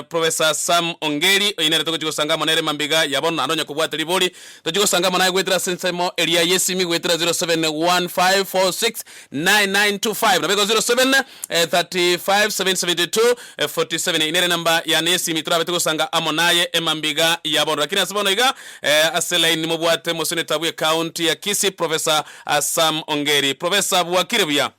Professor Sam Ongeri, oyio nere togochi gosanga amo nere Mambiga ya bono, naende onye kobwate ribori, tochi gosanga amo naye goetera ase ensemo eria y'esimi goetera 0715469925 nabo igo 0735772447 eyio nere enamba yane y'esimi torabete gosanga amo naye Mambiga ya bono. Rakini ase bono iga ase line nimobwate Mosenator bwe county ya Kisii Professor Sam Ongeri. Professor bwakire buya?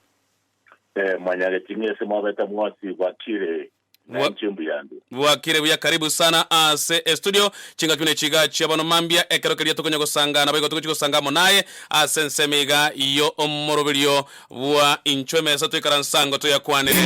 Mwanyagete inwe ase mwabete mwasiibwa kire. Naye nche mbuya ande. Bwakire buya karibu sana ase estudio chingaki buna echi iga chia bono mambia ekero keria tokonya gosanga nabo igo togochi gosanga amo naye ase ensemo iga yo omoroberio bwa inchwe emesa toikaransa ngo toyakwanere.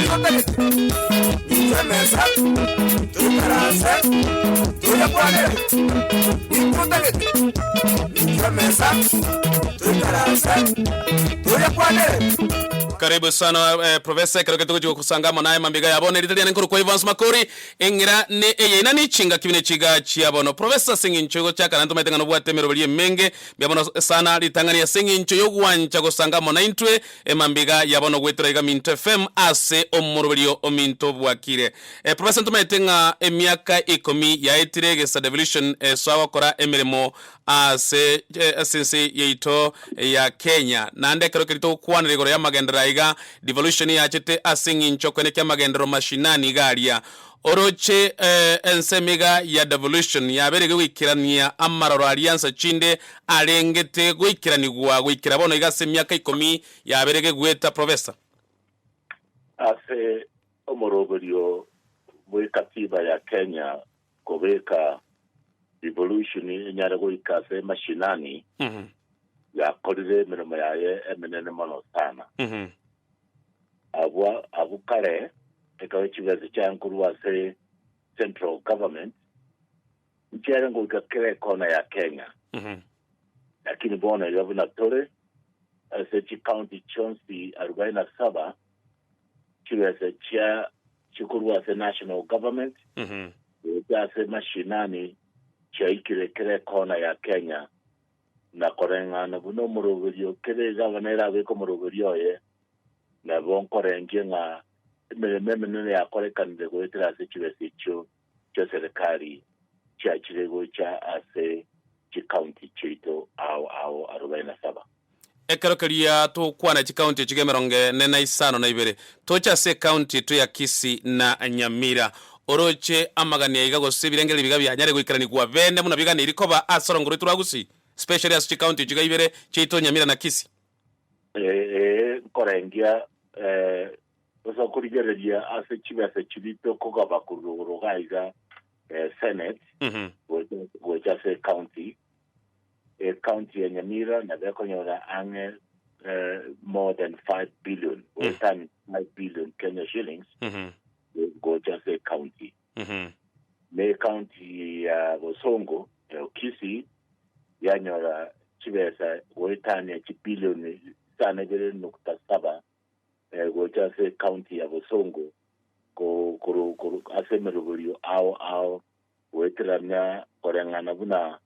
Karibu sana Professor, ekero keria togochia gosanga amo naye mambia iga ya bono, erita riane nkorokwa Evans Makori, eng'ira ne eye inani echingaki buna echi iga chia bono. Professor, ase eng'encho igochaka naende tomaete ng'a nobwate emeroberio emenge, mbuya mono sana ritang'ani ase eng'encho yogwancha gosanga amo naintwe mambia iga ya bono goetera iga Minto FM ase omoroberio ominto obwakire. Professor ntomaete ng'a emiaka ikomi yaetire egesa Devolution esoa gokora emeremo ase ense yaito ya Kenya. Naende ekero keria togokwanera igoro y'amagenderero aya iga, devolution yachete ase eng'encho koenda kia amagenderero mashinani iga aria. Oroche ensemo iga ya devolution yabeire goikerania amaroro aria nsa chinde arengete goikeranigwa goikera bono iga ase emiaka ikomi yabeire gegueta Professor. Ase omoroberio bw'ekatiba ya Kenya, Kobeka rivolushoni enyare goika ase mashinani yakorire emeremo yaye emenene mono sana. Abwo abwo kare ekaba chibesa chiaye korwa ase central government nchiare goika kera ekona ya Kenya lakini bono iga buna tore ase chicounty chionsi arubaini na saba chibesa echia chikorwa ase national government gocha ase mashinani chiaikire ekero ekona ya Kenya na koreng'ana buna omoroberio ekero egavana erabeke omoroberio oye nabo nkorengie ng'a emeremo emenene yakorekanire goetera ase chibesa echio chi'eserekari chiachire gocha ase chikaunti chiaito ao ao arobaini na saba. Ekero keria togokwana chikaunti echigo emerongo ene na isano na ibere, toche ase ekaunti yaito ya Kisii na Nyamira. Oroche amagani aiga gose ebirengererio biga bianyare goikaranigwa bende buna biganeiri koba ase orongo rwaito rwa Gusii, especially ase chikaunti echigo ibere chiaito Nyamira na Kisii. Ee, nkorengia, ee, Gose okorigereria ase chibesa chiria tokogaba korwa igoro iga iga eh, senate Mhm. gocha gocha ase ecounty ecounty ya nyamira nabo ekonyora ang'e eh, more than 5 billion or Mm. than 5 billion kenya shillings Mhm. go- gocha ase ecounty Mhm. ne county ya bosongo ya okisi yanyora chibesa goetania chibilioni sana ibere nukta saba gocha ase ecounty ya Bosongo ase emeroberio ao ao goeterania koreng'ana buna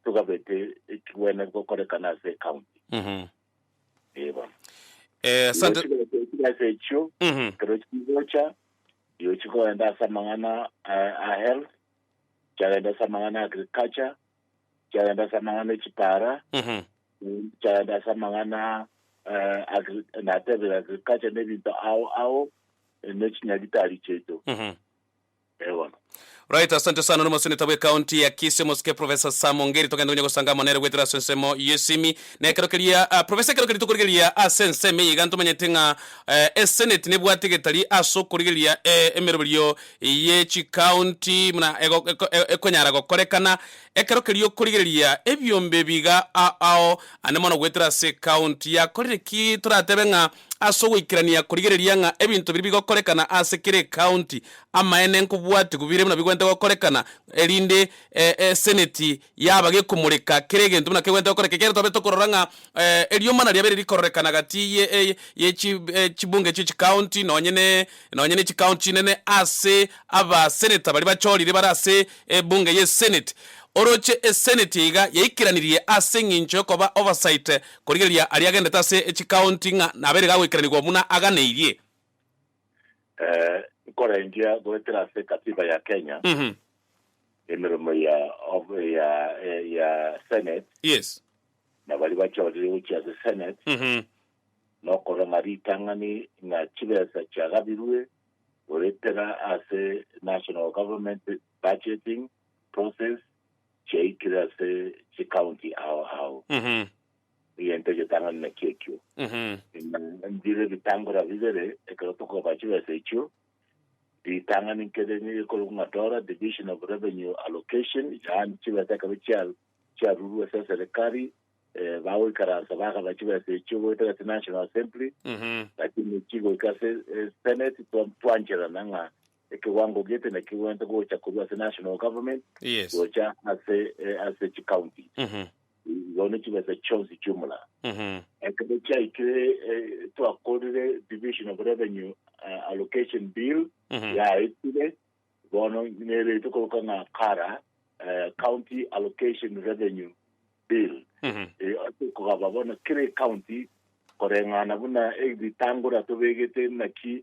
togabete ekigwene gokorekana ase ecounty. Ee bono. Asante. Gochia ase echio ekero chigocha rirochio chikogenda ase amang'ana a health, chiagenda ase amang'ana a agriculture, chagenda ase amang'ana e chipaara, Mhm. chagenda ase amang'ana eh, agri- natebire agriculture na ebinto ao ao eh, ne chinyagitari chiaito Mhm. Eh, bono Right, asante sana no moseneta bwe county ya Kisii Mosike Professor Sam Ongeri togende gonya gosanga amo nere gwetera ase ensemo yesimi na ekero keria ah, Professor ekero keria tokorigereria ase ensemo eye iga ntomanyete ng'a eh, eseneti nebwate getari ase okorigereria eh, emeroberio ye chikaunti buna ekonyara gokorekana ekero keria okorigereria ebiombe ebiiga ao ande mono goetera ase ekaunti yakorire ki toratebe ng'a ase ogoikerania korigereria ng'a ebinto biria bigokorekana ase kera ekaunti amaene nkobwatigwe bire buna bigwenerete gokorekana erinde eseneti. Yaba gekomoreka kera egento buna kegwenerete gokoreka. Ekiagera twabire tokorora ng'a eriomana riabere rikororekana gati ye ye chi chibunge chie chikaonti nonye ne nonye ne chikaonti chinene ase abaseneta baria bachorire bare ase ebunge ye Senate. Oroche eseneti iga yaikeranirie ase eng'encho yokoba oversight korigereria aria agendete ase chikaonti ng'a nabere gagoikeranigwa buna aganeirie. Eh, nkorengia goetera ase katiba ya Kenya Mhm. emeremo ya of- ya eh, ya Senate Yes. na bari bachorire gochia ase Senate Mhm. nokora ng'a ritang'ani ng'a chibesa chiagabirwe goetera ase national government budgeting process chiaikire ase chicounty ao ao Mhm. egento egetang'ani nakio ekio. Buna mbire ebitangora bibere ekero tokoba chibesa echio, ritang'ani nkere nigo ekorokwa ng'a DORA, Division of Revenue Allocation, yaani chibesa ekero chia- chiarurwa ase eserekari, eh, bagoikaransa bagaba chibesa echio goetera ase National Assembly, lakini chigoika ase eh, Senate twa- twancherana ng'a Ekewango gete nakio gwento gocha korwa ase national government Yes. gocha ase eh, ase chicounty Mhm. igo ne chibesa chionsi chiomula Mhm. ekero chiaikire eh, twakorire division of revenue eh, allocation bill Mhm. yaetire bono nere tokoroka ng'a kara eh, county allocation revenue bill Mhm. Eh, ase kogaba bono kere county koreng'ana buna ebitangora tobegete naki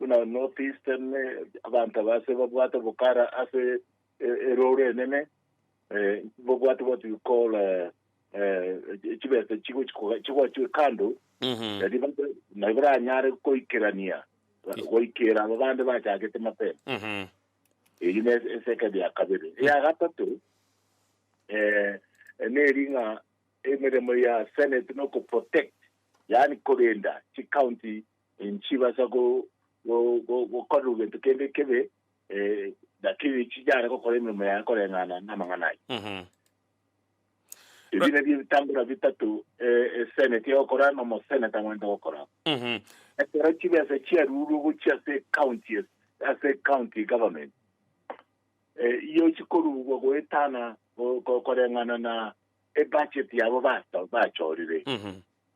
buna North Eastern, abanto aba ase babwate obokara ase erooro enene, bobwate what you call chibesa chigochwe kando, mm-hmm. nari baranyare koikerania goikera aba bande bachagete mapema mm-hmm. eyi ne esekedi ya kabere mm. ya gatatu eh, neri ng'a emeremo ya senate no protect yani korenda chicounty Inchibasa gokora gento kende kebe, lakini inchinyare gokora emeremo yaye koreng'ana namang'ana ayio. Ebi nabio ebitangora bitato eseneti egokora na omoseneta amanyete gokora. Ekero chibesa chiarurwe gochia ase ecounty ase ecounty government, iyio chikorurwa goetana koreng'ana na ebudget yabo bachorire.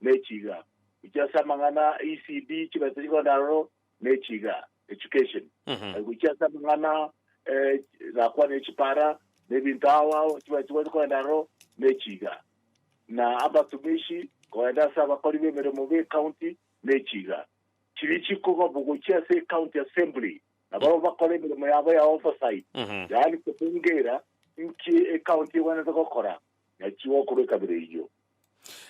ne chiga, gochia ase amang'ana a ECD, chibesa chikondaro, ne chiga, education, eh, gochia ase amang'ana eh, gakwana echipara, ne ebinto ao ao, chibesa chikwa chikondaro, ne chiga na abatumishi kogenda ase abakori b'emeremo b'ecounty ne chiga chiri chikogobwa gochia ase ecounty assembly na barabwo bakora emeremo yabo ya oversight yaani kobungera nki ecounty egwenerete gokora na chigokoro ekabere eyio.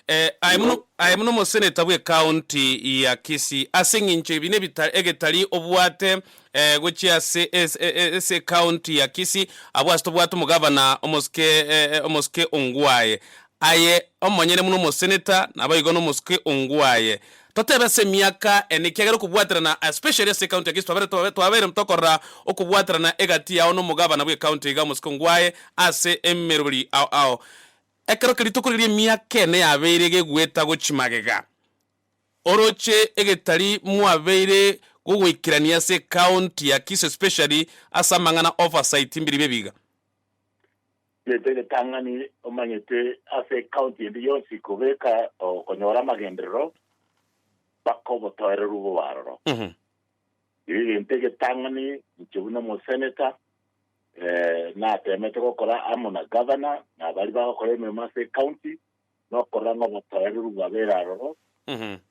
Eh, aye buna, aye buna omoseneta bw'ecounty ya Kisii, ase eng'encho ebi nebita, egetari obwate eh, gochia ase es- e- e- ase ecounty ya Kisii, abwo ase tobwate omogavana omosuke eh, eh, omosuke ongwaye. Aye omonyene buna omoseneta, nabo igo nomosuke ongwaye. Totebe ase emiaka ene ekiagera okobwaterana especially ase ecounty eke twabeire twabeire tokorora okobwaterana egati yao na omogabana bw'ecounty iga omosiko ngwaye ase emerori ao ao ekero keria tokorigereria emiaka ene yabeire gegoeta gochi magega oroche egetari mwabeire gogoikerania ase ecounty ya Kisii especially ase amang'ana oversight mbiria bia ebiga. Gento egetang'ani omanyete ase ekaunti ende yonsi kobeka okonyora amagenderero mpaka obotoereru bobe aroro. Erio egento egetang'ani inche buna omoseneta eh, nateemete gokora amo na gavana na abari bagokora emeremo ase ekaunti nokorora ng'a obotoereru bwabere aroro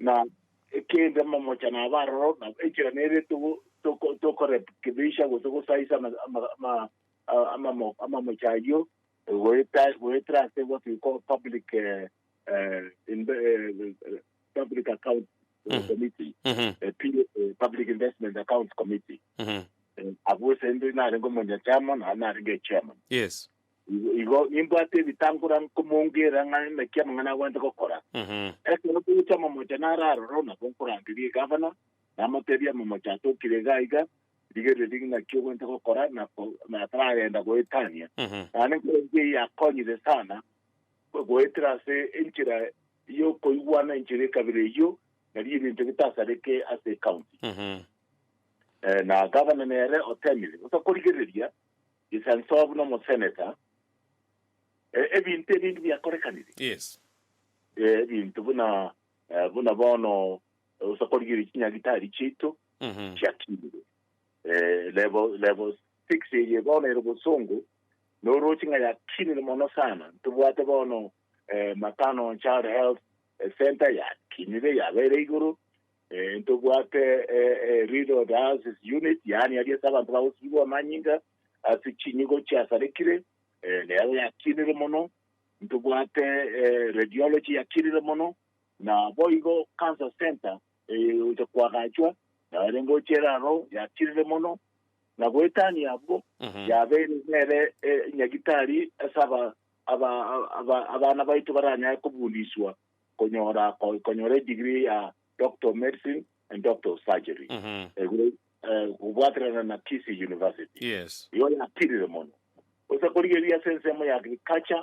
na ekende mamocha nabe aroro na enchera nere togo- toko- tokorekebeisha gose gosaisa ama- ama- ama- amamochi ayio goetera ase what we call public public account committee public investment account committee abwo ase inde narenge omonyachama naye narenge echairman yes igo nimbwate ebitangora nkomongera ng'a naki amang'ana agwanete gokora ekero togocha amamocha nararora nabo nkorangeria egavana namotebia amamocha atokire iga iga Rigereria rigina kiogwenta gokora na nataragenda goetania. Naende enkorokio eye yakonyire sana goetera ase enchera yokoigwana enchera ekabira eyio nari ebinto bitasareke ase ecounty. Na governor nere otemire bosa korigereria gesanso buna omosenator ebinto ebinge biakorekanire. Ebinto buna buna bono Gose korigereria chinyagitari chiaito chiakinire. Eh, level, level six eye bono ere bosongo, noroche ng'a yakinire mono sana. Ntobwate bono eh, matano child health eh, center yakinire yabeire igoro. Eh, ntobwate eh, eh, renal dialysis unit, yaani aria ase abanto bagosibigwa amanyinga ase chinyigo chiasarekire, eh, nero yakinire mono. Ntobwate eh, radiology yakinire mono. Naboigo Cancer Centre eye egocha koagachwa naende ngocha ere aro yakinire mono, na goetania abwo yabeire nere enyagitari ase abana baito baranyare kobundiswa konyora konyora edegree ya Doctor of Medicine and Doctor of Surgery kobwaterana na Kisii University. Igo yakinire mono gose korigereria ase ensemo ya Agriculture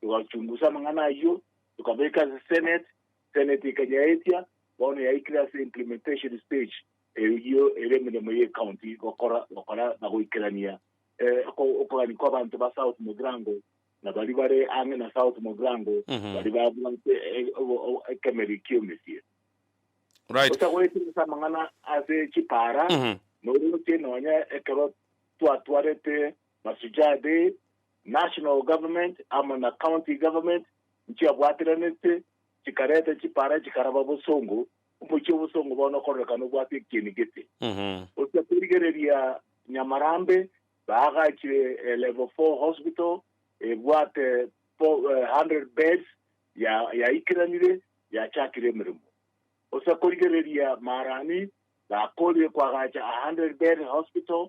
Togachungusa amang'ana ayio, tokabeka ase Senate, Senate ekanyaetia, bono yaikire ase implementation stage, eyio ere emeremo ye county gokora gokora na goikerania eh, oko- okogania kwa abanto ba South Mugirango na baria bare ang'e na South Mugirango Mhm. baria babwate eh, obo- obo- ekemeri ki'omesie Right. gosa goetera ase amang'ana ase chipara Mhm. noroche nonya ekero twatwarete masujade National Government amo na County Government nchiabwatiranete chikareta chipara chikaraba bosongo, omochie obosongo bono okororeka nobwate ekieni gete. Gochia korigereria Nyamarambe baagachire eh, level 4 hospital ebwate fo- eh, 100 beds ya yaikiranire yachakire emeremo. Gochia korigereria Marani bakorie kwagacha a 100 bed hospital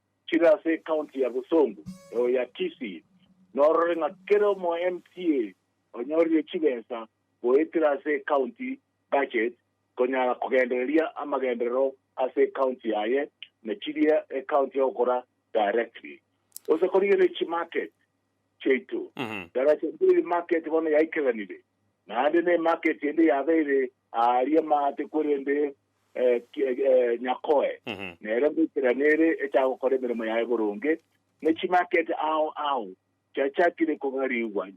chire ase ecounty ya Bosongo eo ya Kisii, norore ng'a kera omo MCA onyorire chibesa goetera ase ecounty budget konyara kogendereria amagenderero ase ecounty yaye na chiria ecounty egokora directly. Gose korigereria chimarket. chiaito. Daracha mbiri y'emarket bono yaikeranire, naende n'emarket ende yabeire aaria amaate korende Nyakoe nere ngoikerana ere echagokora emeremo yaye boronge, ne chimarket ao ao chiachakire kogarigwa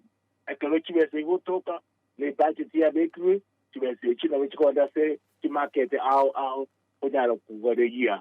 ekero chibesa igotoka, na ebudget yabekirwe, chibesa echio nabo chikogenda ase chimarket ao ao konyara kogaregia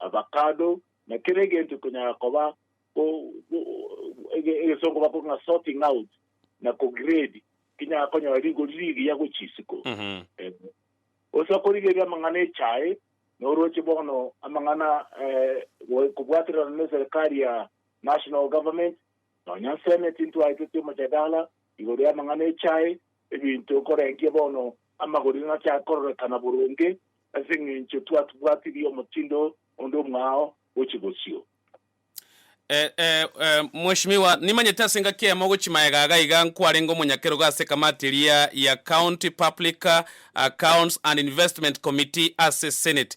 avacado, na kera egento ekonyara koba egesongo bakora ng'a sorting out na ko grade kinyara konyora rigori rigiya gwe chisiko. Gose okorigereria amang'ana echae, noroche bono amang'ana kobwaterana ne eserikari ya national government, Nonya nsene tintwaeteti omojadala igoro y'amang'ana echae, ebinto nkorengia bono amagori nachaakororekana boronge, ase eng'encho twatubwatirie omotindo onde omwao gochia bosio. Eh, eh, eh, Mweshimiwa, nimanyete ase engaki eyemo gochia magega aga iga nkwarenge omonyakerogo ase ekamati eria ya County Public Accounts and Investment Committee ase Senate.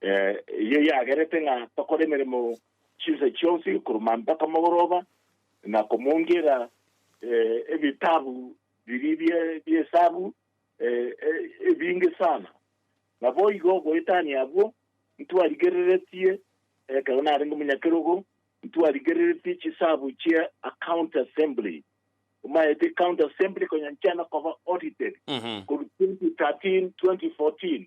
Eyio yagerete ng'a tokore emeremo chinsa chionsi korwa mambia mpaka mogoroba, na komoungiera ebitabu biria bi'esabu ebinge sana. Naboigo goetania abwo ntwarigereretie, ekero narenge omonyakerogo, ntwarigereretie chisabu chia account assembly, omaete account assembly konya nchiana koba audited korwa 2013, 2014.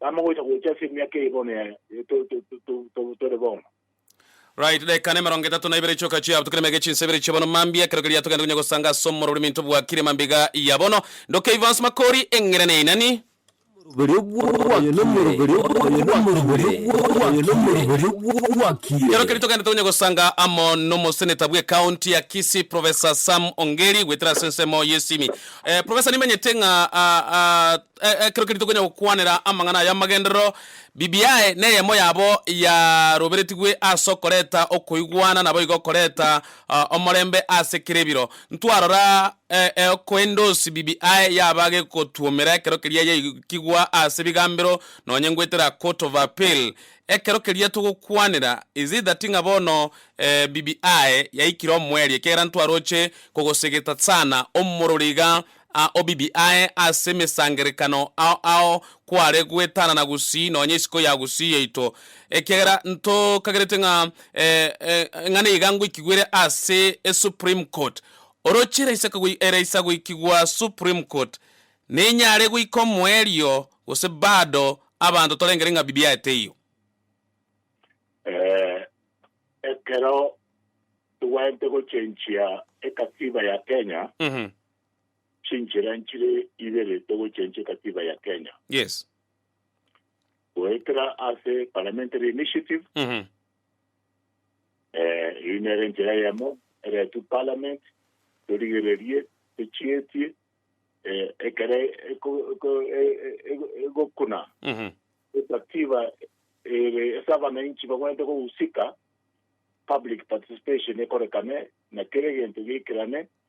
Tama gocha gocha ase emiaka eye bono yaye tore bono. Right dakika nemerongo etato na ibere chioka chiabo tokire mege chinsa ibere chia bono mambia ekero keria togende konya gosanga ase omoroberi minto bwakire mambiga ya bono ndoke Evans Makori eng'ire ne inani. Oyo nomoroberi Ekero keria togende tokonya gosanga amo nomoseneta bwe county ya Kisii Professor Sam Ongeri goetera ase ensemo yesimi. Professor nimenyete ng'a Ekero keria tokonya gokwanera amang'ana aya 'amagenderero, bibiae neyemo yabo yaroberetigwe ase okoreta okoigwana, naboigo okoreta omorembe ase kera ebiro. Ntwarora eokoendosi bibiae yaba gegotuomera ekero keria yaikigwa ase bigambero nonye ngoetera a court of appeal. Ekero keria togokwanera is it that ng'a bono bibiae yaikire omoerio ekiagera ntwaroche kogosegeta tsana omororo iga a obibi aye ase emesangerekano ao ao kware gwetanana gusii nonya isiko ya gusii yaito, ekiagera ntokagerete ng'a eng'ana iga ngoikigwere ase eSupreme Court. Oroche eraisa kagoi eraisa goikigwa Supreme Court, nenyare goika omoerio gose bado abanto torengere ng'a bibi aye teiyo? Eh, ekero togwenerete gochenchia ekatiba ya Kenya, Mhm. chinchera nchire ibere togochencha ekatiba ya Kenya. Yes. Goetera ase parliamentary initiative, Mhm. eh, eri nere enchera eyemo eretwe parliament, torigererie tochietie eh, ekere eko- eko- e- e- e- egokuna Mhm. ekatiba ere ase abananchi bagwenerete kogusika public participation ekorekane na kere egento geikerane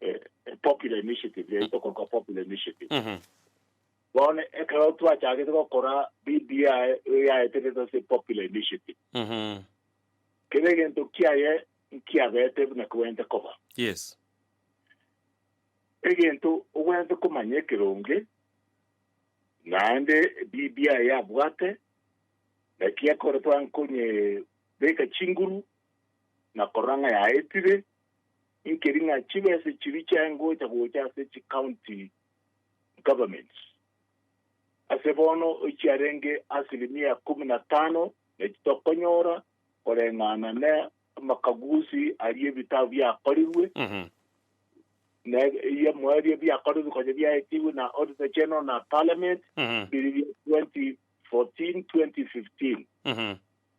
eh, eh, popular initiative yaito korwa popular initiative Mhm. bono ekero twachagete gokora bbi yaeterete ase popular initiative Mhm. kere egento kiaye nkiabete buna kogwente koba Yes. egento ogwente komanya ekeronge naende bbi yabwate naki ekore twankonye beka chinguru nakorora ng'a yaetire nkeri ng'a chibesa echiria chiaye ngocha gocha ase chicounty governments, ase bono echiarenge asilimia ikomi na tano nachi tokonyora koreng'ana na amakaguzi aria ebitabo biakorirwe, Mhm. na ebiamoyo eria biakorirwe konya biaetigwe na Auditor General na Parliament, Mhm. biri bia 2014-2015. Mhm.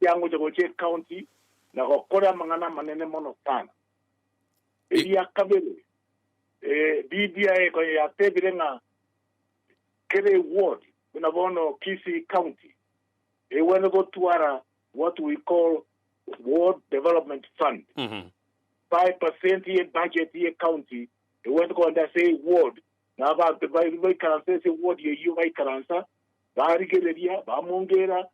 Kiangocha gochia ecounty na gokora amang'ana amanene mono sana. Eria kabere, BBI konya yatebire ng'a kera eward, buna bono Kisii County, egwenerete gotwara what we call ward development fund. Five percent ye budget ye county egwenerete kogenda ase eward, na abanto baikaransa ase eward eyio baikaransa, barigereria, bamongeera,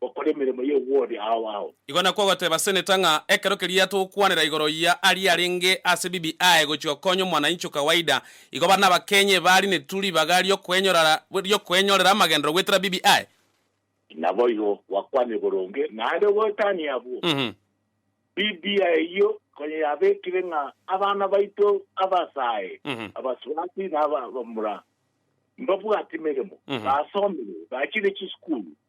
gokora emeremo y'obwori ao ao. Igo nakwo ogoteba Seneta ng'a ekero keria togokwanera igoro ya aria arenge ase BBI gochia okonya omwananchi o kawaida, igo bare n'Abakenya ebari neturu ribaga riokoenyorara riokoenyorera amagenderero goetera BBI. Naboigo gwakwanire boronge naende goetania abwo BBI eyio konya yabekire ng'a abana baito abasae, abasubati na abamura mbabwati meremo, basomire, bachire chisukuru,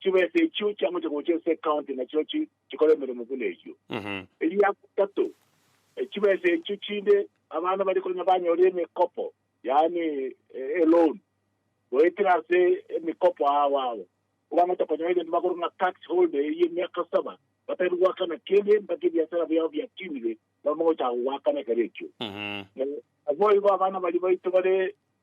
chibesa echio chiamocha gocha ase ecounty na chirochio chikore emeremo buna eyio. Eria gatato, chibesa echio chinde abana bare konya banyore emekopo, yaani eloan, goetera ase emikopo ao abo. Obang'ata konya egento bakorwa ng'a tax holder eye emiaka saba, batari goakana kende mpaka ebiasara biabo biatinire, bamogochaka goakana ekero ekio. Naboigo abana baria baito bare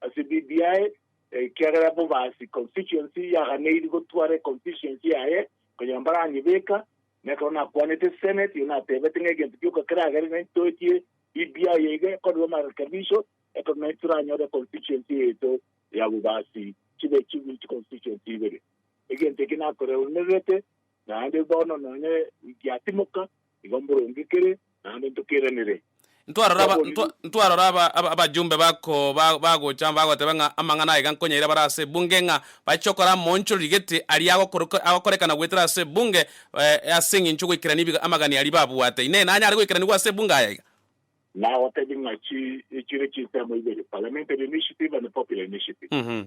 ase BBI, ekiagera Bobasi Constituency yaganeiri gotwara econstituency yaye konya mbaranyebeka, na ekero nakwanete Senate iyo natebete ng'a egento gioka keragere nai toetie BBI eye ekorerwe amarekebisho ekero nai toranyore econstituency yaito ya Bobasi chibe chibe chiconstituency ibere. Egento eke nakoreunererete naende bono nonye giatimoka Igo mborongekere, naende ntokeranere. Ntwarora aba, Twabonire. ntwa- ntwarora aba, aba, abajumbe bako ba, bagocha bagoteba ng'a amang'ana aiga nkonyaire abare ase ebunge ng'a bache gokora amoonchoro rigeti aria agokoroka, agokorekana goetera ase ebunge eh, ase eng'encho goikerania ebiga amagani aria babwate. Inee, nanyare goikeranigwa ase ebunge aya iga? Nagotebie ng'a chi, echire chinsemo ibere, Parliamentary Initiative and Popular Initiative. Mhm.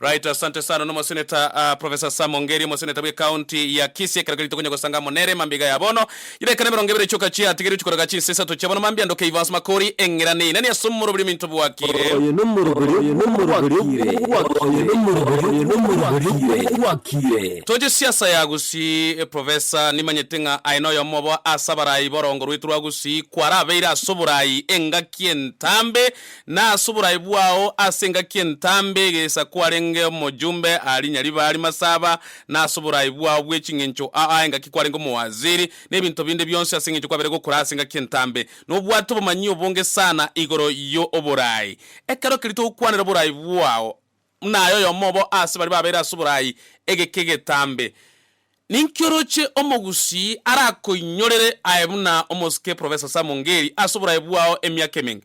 Right asante sana nomoseneta ah, Professor Sam Ongeri omoseneta bwe county ya Kisii ekero kerito konya gosanga amo nere mambia ya bono yireka nemerongo ebere choka chia atigeri chikoraga chinsa isato chia bono mambia ndo Keivans Makori eng'ira neina ni ase omoroberi ominto bwakire Oyo nomoroberi obwakire. Toche siasa ya Gusii Professor nimanyete ng'a aye noyomo obo ase abarayi borongo rwetu rwa Gusii kwarabeire ase oborayi engaki entambe na ase oboraai bwao ase engaki entambe egeisa kwarenge omojumbe aa rinya ribaa rimasaba, na ase oboraai bwao bwe ching'encho aa engaki kwarenge omowaziri, na ebinto binde bionsi ase eng'encho kwabeire gokora ase engaki entambe, nobwate obomanyi obonge sana igoro yo oboraai. Ekero keria togokwanera oboraai bwao, buna aye oyomo obo ase baria babeire ase oboraai egeke egetambe, ninki oroche omogusii arakoinyorere aye buna omosike Professor Sam Ongeri ase oboraai bwao emiaka emenge?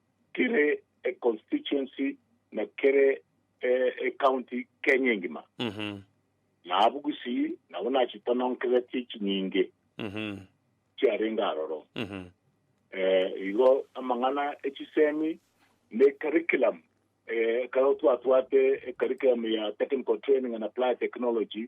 kere econstituency na kere ecounty Kenya engima. Na abwo gusii nabo nachitononkeretie chinyinge chiarenge aroro. Igo amang'ana echisemi ne curriculum ekero twatwate curriculum ya technical training and applied technology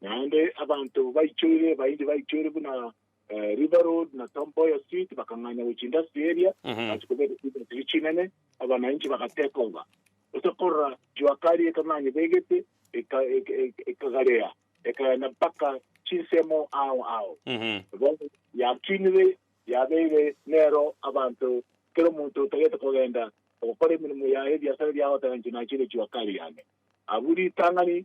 Naende abanto baichoire, bainche baichoire buna eh, River Road na Tom Mboya Street bakang'anya gochia industry area Mhm. basi kobeka industry chinene abananchi bagateka oba gose korora juakari ekang'anya begete eka- eka- eka- ekagarea ekagenda mpaka chinsemo ao ao Mhm. Bono yakinire yabeire nero abanto kero omonto otagete kogenda ogokora emirimo yaye ebiasara biago otaganche nachire juakari yane abu ritang'ani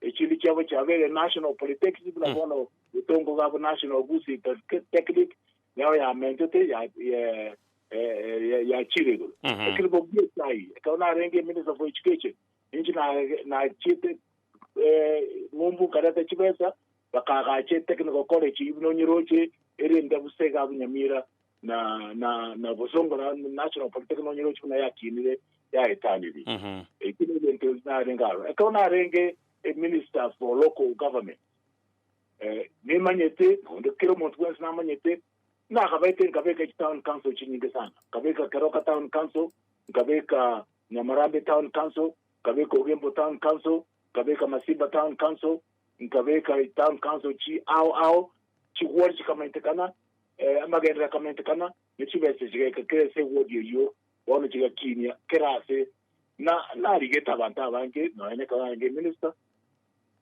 Echindi chiabo chiabeire National Polytechnic buna bono Gitongo Gab National Goods Technic nero yamentete ya eh, eh, eh, yachire igoro Mhm. ekero bobua esai ekero narenge minister for education ninchi na- nachiete eh, ng'umbu nkareta chibesa bakagache technical college buna onyeroche erinde busega bunyamira na na na bosongora national polytechnic nonye rochi buna yakinire yaetaniri Mhm. eki ni ebintu narenge aro ekero narenge eh, minister for local government eh, nimanyete onde kera omonto bwensi namanyete nakabaete nkabeka eki town council chinyinge sana nkabeka keroka town council nkabeka nyamarambe town council nkabeka ogembo town council nkabeka masimba town council nkabeka town council chi ao ao chigwori chikamanyetekana Amagenderero akamentekana, ne chibese chigaika kera ase egodi eyio, bono chigakiinia kera aase. Na narigete abanto abange, nonya nekaba narenge eminista,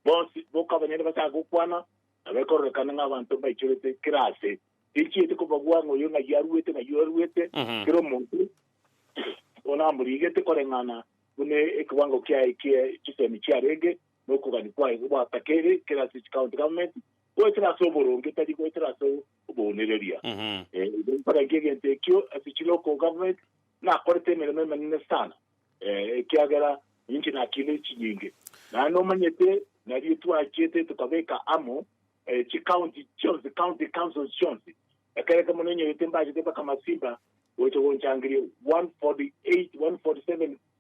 bonsi bokabanyene bachake gokwana, na bekororekana ng'a abanto mbaichorete kera aase. Tinchiete kobagwa ng'a oyo ng'ai aruete, ng'ai aruete, kera omonto onamorigete koreng'ana buna ekiwango kiaye kie chisemi chiarenge. na okogania kwaye gwatakere kera ase chicounty government, goetera ase oboronge tari goetera ase oboonereria. Eh, igo nkorankia egento ekio ase chilocal government nakorete emeremo emenene sana eh, ekiagera ninche nakina echinyinge naye nomanyete nario twachiete tukabeka amo eh, chicounty chionsi county councils chionsi ekere kemo nenyorete mbachete mpaka masimba gocha gonchangeria 148 147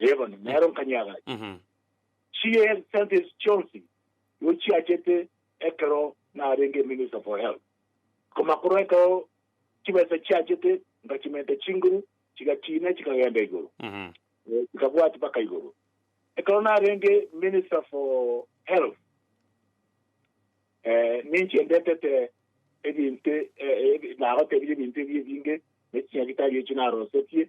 Ee bono, nero nkanyaagacha Mhm. chi'esente echi chionsi nigo chiachete ekero narenge Minister for Health. Koma korwa ekero chibesa chiachete nkachimenta chinguru chigachiina chikagenda igoro, Mhm. eh, chikabwati mpaka igoro. Ekero narenge Minister for Health eh, ninche ndetete ebinto eh, eh, nagotebirie ebinto ebi ebinge ne chinyagitari echi narosetie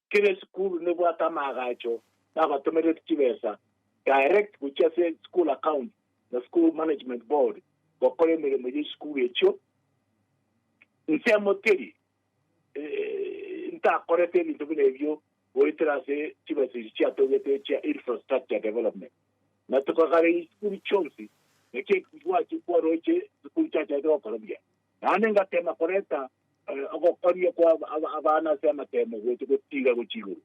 Kera esukuru nebwate amaagacho nabatomerereti chibesa direct gochia ase school account na school management board gokora emeremo y'esukuru echio. Nsemo teri ntakorete ebinto buna ebio goetera ase chibesa echi chiatogete echia infrastructure development. Na tokagareria chisukuru chionsi, naki ekero gwache kwaroche chisukuru chiacharete gokora buya. Naende ngateema koreta ogokoria kwa abana ase amateemo gocha gotiga gochia igoro.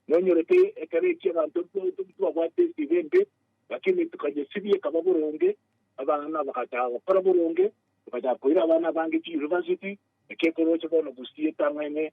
Nonyorete ekero ekio abanto tibabwate esegi embe, lakini tokanyesibia ekaba boronge, abana bagachaka gokora boronge, togachaka koira abana abange chiuniversity, ekiekoroche bono gusii etang'aine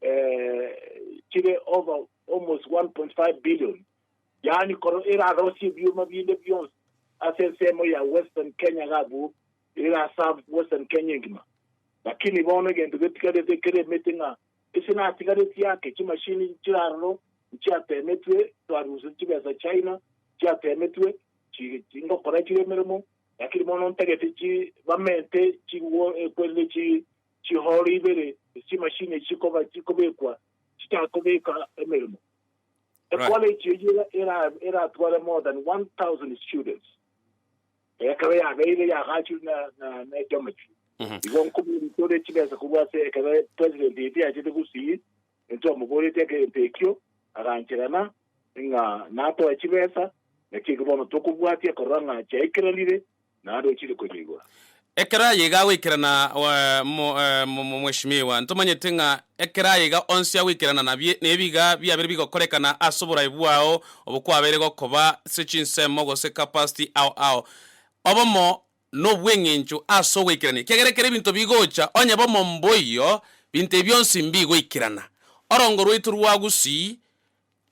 eh, chire over almost 1.5 billion yaani koro erarosie ebioma binde bionsi ase ensemo ya western kenya gabu erasave western kenya engima lakini bono egento getigarete kere emete ng'a ese natigaretie ake chimashini chiraroro nchiatemetwe twaruse chibesa china chiatemetwe chi- chingokora chire emeremo lakini bono ntagete chi bamente chiwo ekwerire chi chihoro ibere echi'emashini echi chikobekwa chitakobeka emeremo. Ekolegi eyio eratware more than 1,000 students, ekero yabeire yagachirwe na Geometry. Igo nkoboria tore chibesa korwa ase ekero President etiachete gusii, intwamoboreti egento ekio, aganchegena ng'a natoe chibesa, naki eki bono tokobwatia korora ng'a chiaikeranire Naende ochire konyigwa. Ekero aye iga agoikerana Mweshimiwa, ntomanyete ng'a ekero aye iga onsi agoikerana nabie nebiga biabere bigokorekana ase oborabe bwao obokwabeire gokoba ase chinsemo gose capacity ao ao obomo nobweng'encho ase ogoikerania ekiagera ekero ebinto bigocha onye bomo mboiyo binto ebi bionsi mbigoikerana orongo rwaito rwa gusii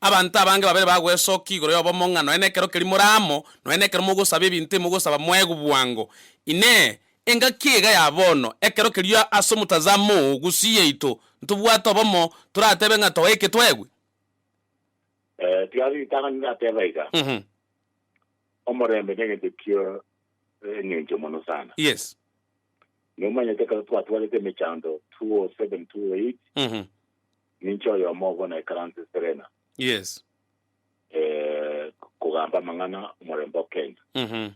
Abanto abange babere bagwesokia igoro y'obomo ng'a nonya nekero keria more amo, nonya nekero mogosaba ebinto ebi mogosaba moegwe bwango. Inee! Engaki iga ya bono, ekero keria ase omotazamo oo gusii yaito ntobwate obomo, toratebe ng'a toeke toegwe? Ee, tiga ase ritang'ani ndateba iga, Mhm. Omorembe negento kia engencho mono sana. Yes. Nomanyete ekero twatwarete emechando 207, 208, Mhm. Ninche oyomo obo naikaranse Serena. Yes. Eh, kogamba amang'ana omorembe o Kenya. Mm -hmm.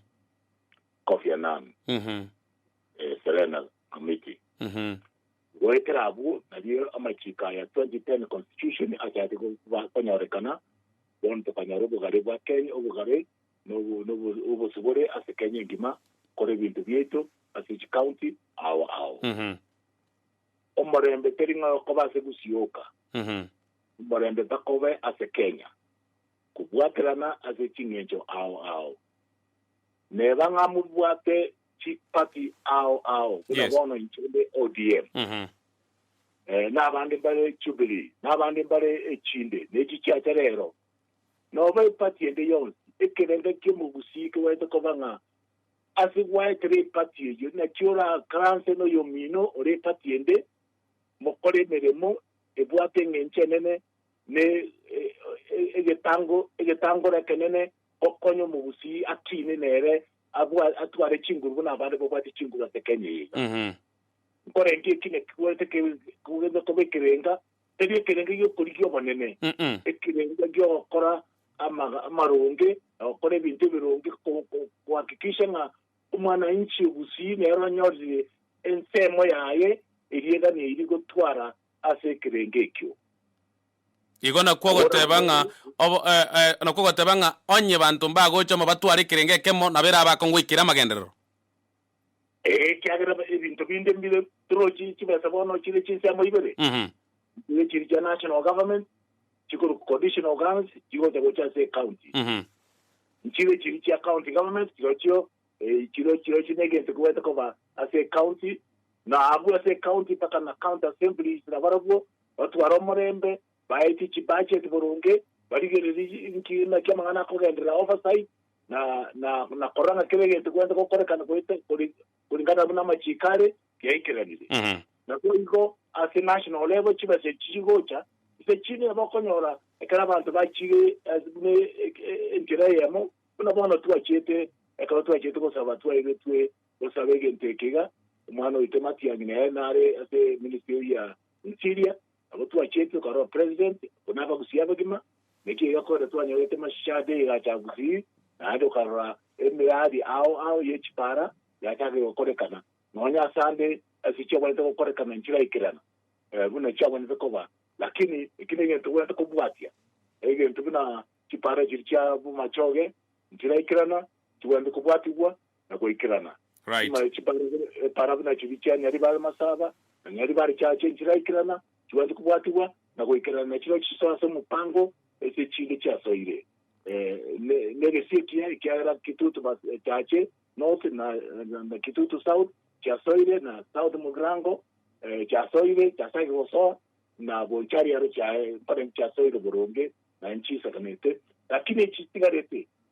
Kofi Annan. Mm -hmm. eh, Serena Committee. Mm -hmm. Goetera abwo, nario amachiko aya 2010 constitution achati konyorekana, bono tokanyora obogare bwa Kenya, obogare obosibore ase Kenya engima, kore ebinto biaito ase each county ao ao. Mm -hmm. Omorembe teri ng'ai okoba ase gusioka, omorembe takobe ase Kenya, kobwaterana ase ching'encho ao ao. Neba ng'a mobwate chi party ao ao buna Yes. bono inche nde ODM, eh, nabande mbare Jubilee, nabande mbare echinde, ne echi chiacha rero. Noba eparty ende yonsi, ekerende ki'omogusii kebaete koba ng'a Ase gwaetera epati eyio naki orakaranse noyomino ore epati ende, mokore emeremo ebwate eng'encho enene ne egetango egetangoro ekenene, gokonya omogusii akiine nere abwa atware chinguru buna abande babwate chinguru ase Kenya eye iga. Nkorenge eki naki gwenerete ke kogende koba ekerenga. tari ekerengo gi'okorigia Omonene, ekerengo gi'ogokora amaronge, na gokora ebinto ebironge kohakikisha ng'a omwananchi obusii nere onyorire ensemo yaye eria eganeiri gotwara ase ekerengo ekio. Igo nakwo ogoteba ng'a nakwo ogoteba ng'a onye banto mbagocha omobatware ekerengo ekemo, nabo erabe akongoikera amagenderero. Ekiagera ebinto binde mbire birochi chibesa bono chire chinsiamo ibere, Mhm. nigo chiri chia national government, chikorwa conditional grants chigocha gocha ase ecounty. Mhm. Nchire chiri chia county government chirochio eh, chiro chirochio negento kobwate koba ase ecounty na abwo ase ecounty mpaka na county assembly na barabwo batware omorembe baetie chibudget boronge barigererie nki naki amang'ana akogenderera oversight na na na korora ng'a kera egento kwenda gokorekana goeta kori koringana buna amachiko are giaikeranire. Mhm. Na boigo ase national level chibesa echi chigocha ase chinde nabo okonyora ekero abanto bachire ase buna e- e- e- enchera eyemo buna bono twachiete ekero twachiete gosaba twaegetwe gosaba egento eke iga omwana oito matiang'i nere nare ase ministry eyi ya interior Agwo twacheti okorora president buna abagusi abagima, naki egakore twanyorete mashiche ande egacha Gusii, naende okarora emeadi ao ao ye chipara yachakire gokorekana, nonya ase ande ase chiagwenerete gokorekana nchiraikerana buna chiagwenerete koba, lakini eki negento ogwenerete kobwatia, egento buna chipara chiri chia bomachoge nchiraikerana, chigwenerete kobwatigwa, na goikerana. Right. Chiparabu nachio bichiania riba amasaba, na nonya riba richache enchiraikerana, chibwati kobwatigwa na goikerana, na chirochio chisoe ase omopango ase chinde chiasoire negesie ekiya, ekiagera Kitutu chache North na Kitutu South chiasoire, na South Mugirango chiasoire, chiasage gosoa, na gocha riaro chiaye mpaka chiasoire boronge, na nchiisakanete, lakini echitigarete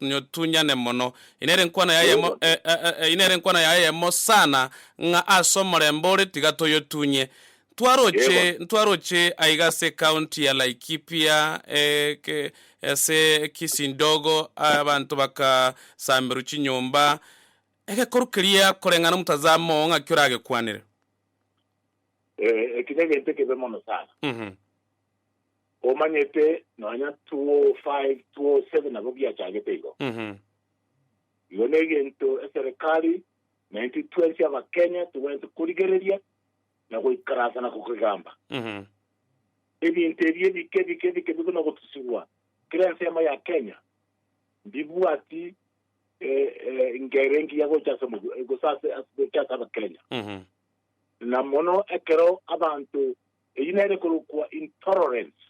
nyotunyane mono. Eye nere enkwano yaye eyemo, e, e, e, eye nere enkwano yaye eyemo sana, ng'a ase omorembe ore tiga toyotunye. Ntwaroche, Yego. ntwaroche aiga ase ecounty ya Laikipia, e, ke, ase Kisindogo, abanto bakasamerwa chinyomba, egekoru keria koreng'ana omotazamo oo ng'aki oragekwanere. Eh, eki negento ekebe mono sana. Mhm. Omanyete nonya 205, 207 nabo giachagete igo. Mhm. Igo negento eserekari na intwe twensi abakenya togwenerete korigereria na goikaransa na kogegamba. Mhm. Ebinto ebi ebike ebike ebike bigana gotusigwa kera ensemo ya Kenya mbibwati eh, eh, ngere engiya gocha ase omobu- eh, gose ase- ase- gocha ase abakenya Mhm. na mono ekero abanto Eyio nere korokwa intolerance,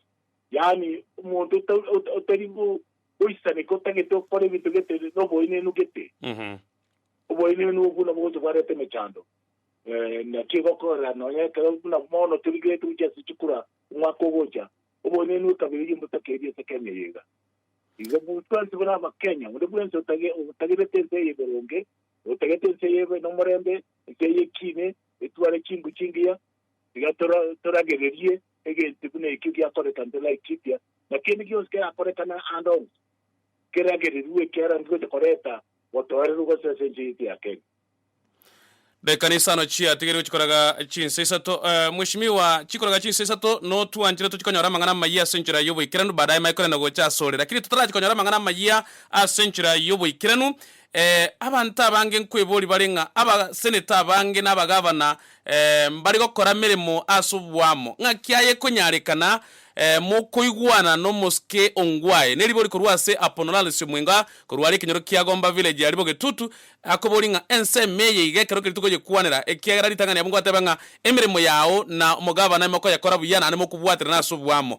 yaani omonto ota otari bo goisaneka otagete gokora ebinto gete noboenenu gete. Oboenenu obwo nabwo gocha bwareta emechando. Naki egokorera nonya ekero buna bono torigereti gochia ase chikura omwaka ogocha, oboenenu ekabira eyio mbotakeiri ase Kenya eye iga. Igo bu twensi buna abakenya onde bwensi otage otagerete ense eye boronge, otagerete ense eye ebe nomorembe, ense eye ekiine, etware chingo chingiya, Tiga toragererie egento buna ekio giakoreka nte Laikipia, na kende gionsi kerakorekane aande onsi, keragererwe, ekiagera ndigocha koreta botoereru gose ase enchera yaito ya Kenya. Daikana isano chia tigerigwe chikoraga chinsa isato. Mweshimiwa, chikoraga chinsa isato notwanchire tochikonyora amang'ana amayia ase enchera y'oboikeranu, baadaye maye korenda gocha asore. Lakini totarachi konyora amang'ana amayia ase enchera y'oboikeranu, Ee, abanto abange nkweboria bare ng'a abaseneta abange na abagavana ee, mbare gokora meremo ase oboamo, ng'aki aye ekonyarekana ee, mokoigwana nomosike ongwae. Ne ribori korwa ase Apono Lars Omwenga korwa are ekenyoro kia Gomba Village aria Bogetutu, akoboria ng'a ensemo eye iga ekero keria tokonyekwanera, ekiagera ritang'ani yabo nkoteba ng'a emeremo yao na omogavana mokoyekora buya naende mokobwaterana ase oboamo.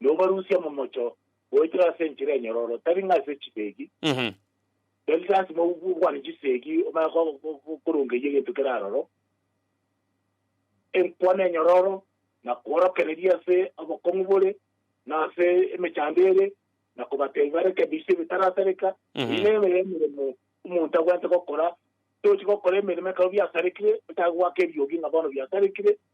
nobarusie momocho goetera ase enchera enyororo, tari ng'a ase chisegi, tari lasima okwane chisegi omanye korongeyia egento kere aroro, enkwana enyororo, na kworokereria ase obokong'u bore, na ase emechando ere, na kobatebia barekebise ebitarasereka, Eyio nebe emeremo omonto abwenerete gokora, tochi gokora emeremo ekero biasarekire, otange goaka eriogi ng'a bono biasarekire.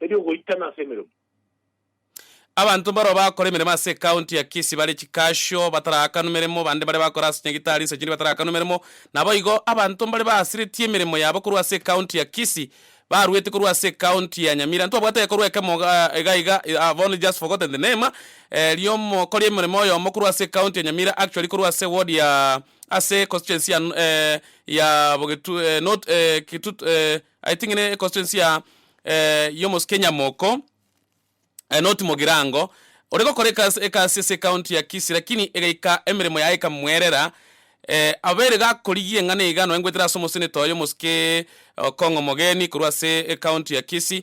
eriogoitana ase emeremo. Abanto mbaroo bakora emeremo ase ekaunti ya Kisii bare chikasio bataraakanwe meremo, bande bare bakora ase nyagitari nsa chindi bataraakanwe meremo. Naboigo abanto mbare baasiretie emeremo yabo korwa ase ekaunti ya Kisii baruete korwa ase ekaunti ya Nyamira. Ntwabwate ekorwa ekemo iga iga I have only just forgotten the name riomokori emeremo oyomo korwa ase ekaunti ya Nyamira actually korwa ase ward ya ase constituency ya ya bogetu not Kitut. I think ne constituency ya ya omosio kenyamoko eh not mogirango ore gokora ekasi ekasi ase county ya kisii lakini egaika emeremo yaye ekamwerera abere gakorigia eng'ana iga nonye ngoetera ase omoseneta oyo omosio ke okong'o omogeni korwa ase ecounty ya kisii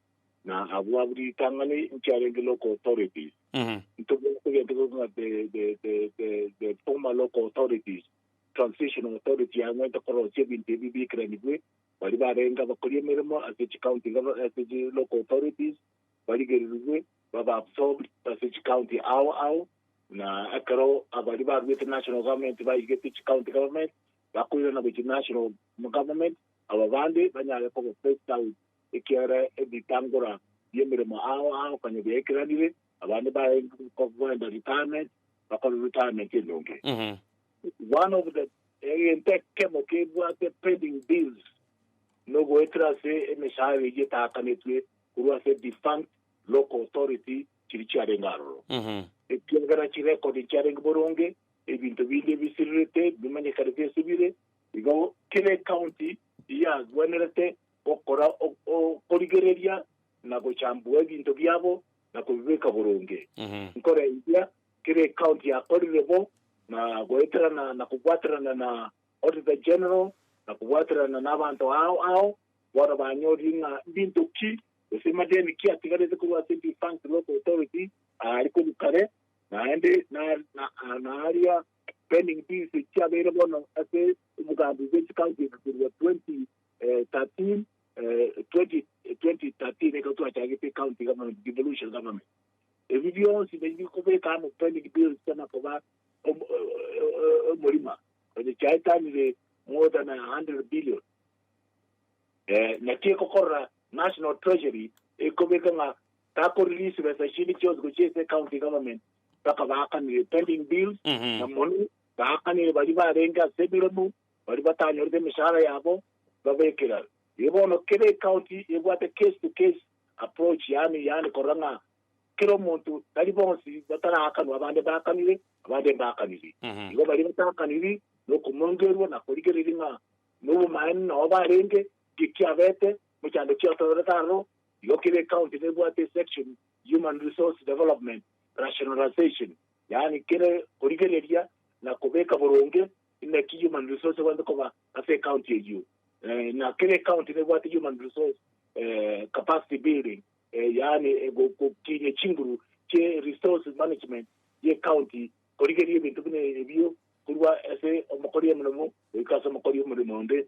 na abwo abwo ritang'ani inche arenge local authorities ntobwate egento keruete ng'a the, the, the, the, the former local authorities transitional authority yang'wete korosia ebinto ebi biikeranigwe bari barenge abakori emeremo ase chicounty gov- ase chi local authorities barigererigwe baba absorbed ase chicounty ao ao na ekero abari baruete national government baigete chicounty government bakoirana gochia national government aba bande banyare koba phased out ekiagera ebitangora bi'emeremo ao ao konya biaikeranire, abande bakoenda retirement, bakore retirement endonge. One of the egento ekemo kebwate pending bills nogoetera ase emeshahara eyio etaakanetwe korwa ase defunct local authority chiria chiarenge aroro, ekiagera chirecord nchiarenge boronge, ebinto binde ebisirerete bimanyekanete ase bire, igo kera ecounty eyagwenerete gokora okorigereria na gochambua ebinto biabo na kobibeka boronge. Nkore enchera kera ekaunti yakorire bo, na goeterana na kobwaterana na Auditor General na kobwaterana nabanto ao ao bono banyorire ng'a mbinto ki gose amadeni ki atigarete korwa ase defunct local authority aare korwa kare naende na aria pending bills chiabeire bono ase omogambi bwe chikaunti korwa 20. 13, 2013 ekero twachagete ecounty government devolution government ebi bionsi nabi bikobeka amo pending bills tena koba om- omorima onye chiaetanire more than 100 billion eh, naki ekokorora national treasury ekobeka ng'a takorelease besa chinde chionsi gochia ase county government mpaka baakanire pending bills Mhm. na mono baakanire bari barenge ase emeromo baria batanyorete emeshahara yabo babekera. Erio bono kera ecounty ebwate case to case approach yaani yaani korora ng'a kera omonto tari bonsi bataraakanwa abande mbaakanire abande mbaakaniri. Igo baria bataakaniri nokomongerwa na korigereria ng'a nobomaene nao barenge ki kiabete mochando kiatororete aroro. Igo kera ecounty nebwate esection human resource development rationalisation yaani kera korigereria na kobeka boronge Inaki human resource egwenerete koba ase ecounty eyio? Ng'a kera ecounty nebwate human resource capacity building, yaani gokinyia chinguru chie resource management y'ecounty korigeria ebinto buna ebio korwa ase omokori omonene goika ase omokori omoremo onde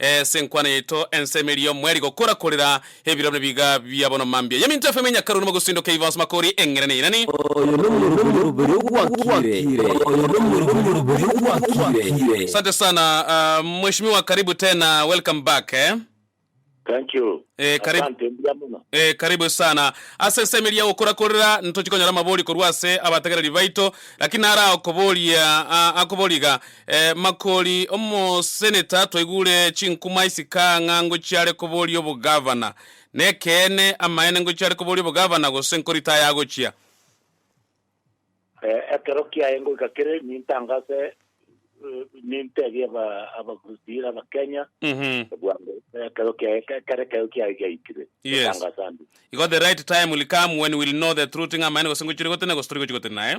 Ee, senkwana yaito ense ime erio mweri gokora korera ebirori buna biga bia bono mambia yaminto efemo ime nyakaru nimo gosindoka ebibaso makori eng'ere ne inani. Oyo nomoroberi ogwakire, oyo nomoroberi ogwakire. Asante sana mweshimiwa karibu tena welcome back eh. Thank you. Eh, karibu. Asante mbuya mono. Eh, karibu sana. Ase ensemo eria ya gokora korera ntochi konyora amabori korwa ase abatagereri baito, lakini naro akoboria, ah, akoboria iga, Eh, Makori, omoseneta, twaigure chinkuma isika ng'a ngochiare koboria obogavana. Nekeene, amaene ngochiare koboria obogavana gose nkoritaya agochia? Eh, ekero kiaye ngoika kere, nintangase, eh, ninteebie aba- Abakristiira Abakenya, Mhm. bwango, ekero kiaye, ekero ekero kiaye giaikire, Yes. nintangase ande. Igo the right time will come when we'll know the true thing, amaene gose ngochire gotenena gose tori gochia gotenena, eh?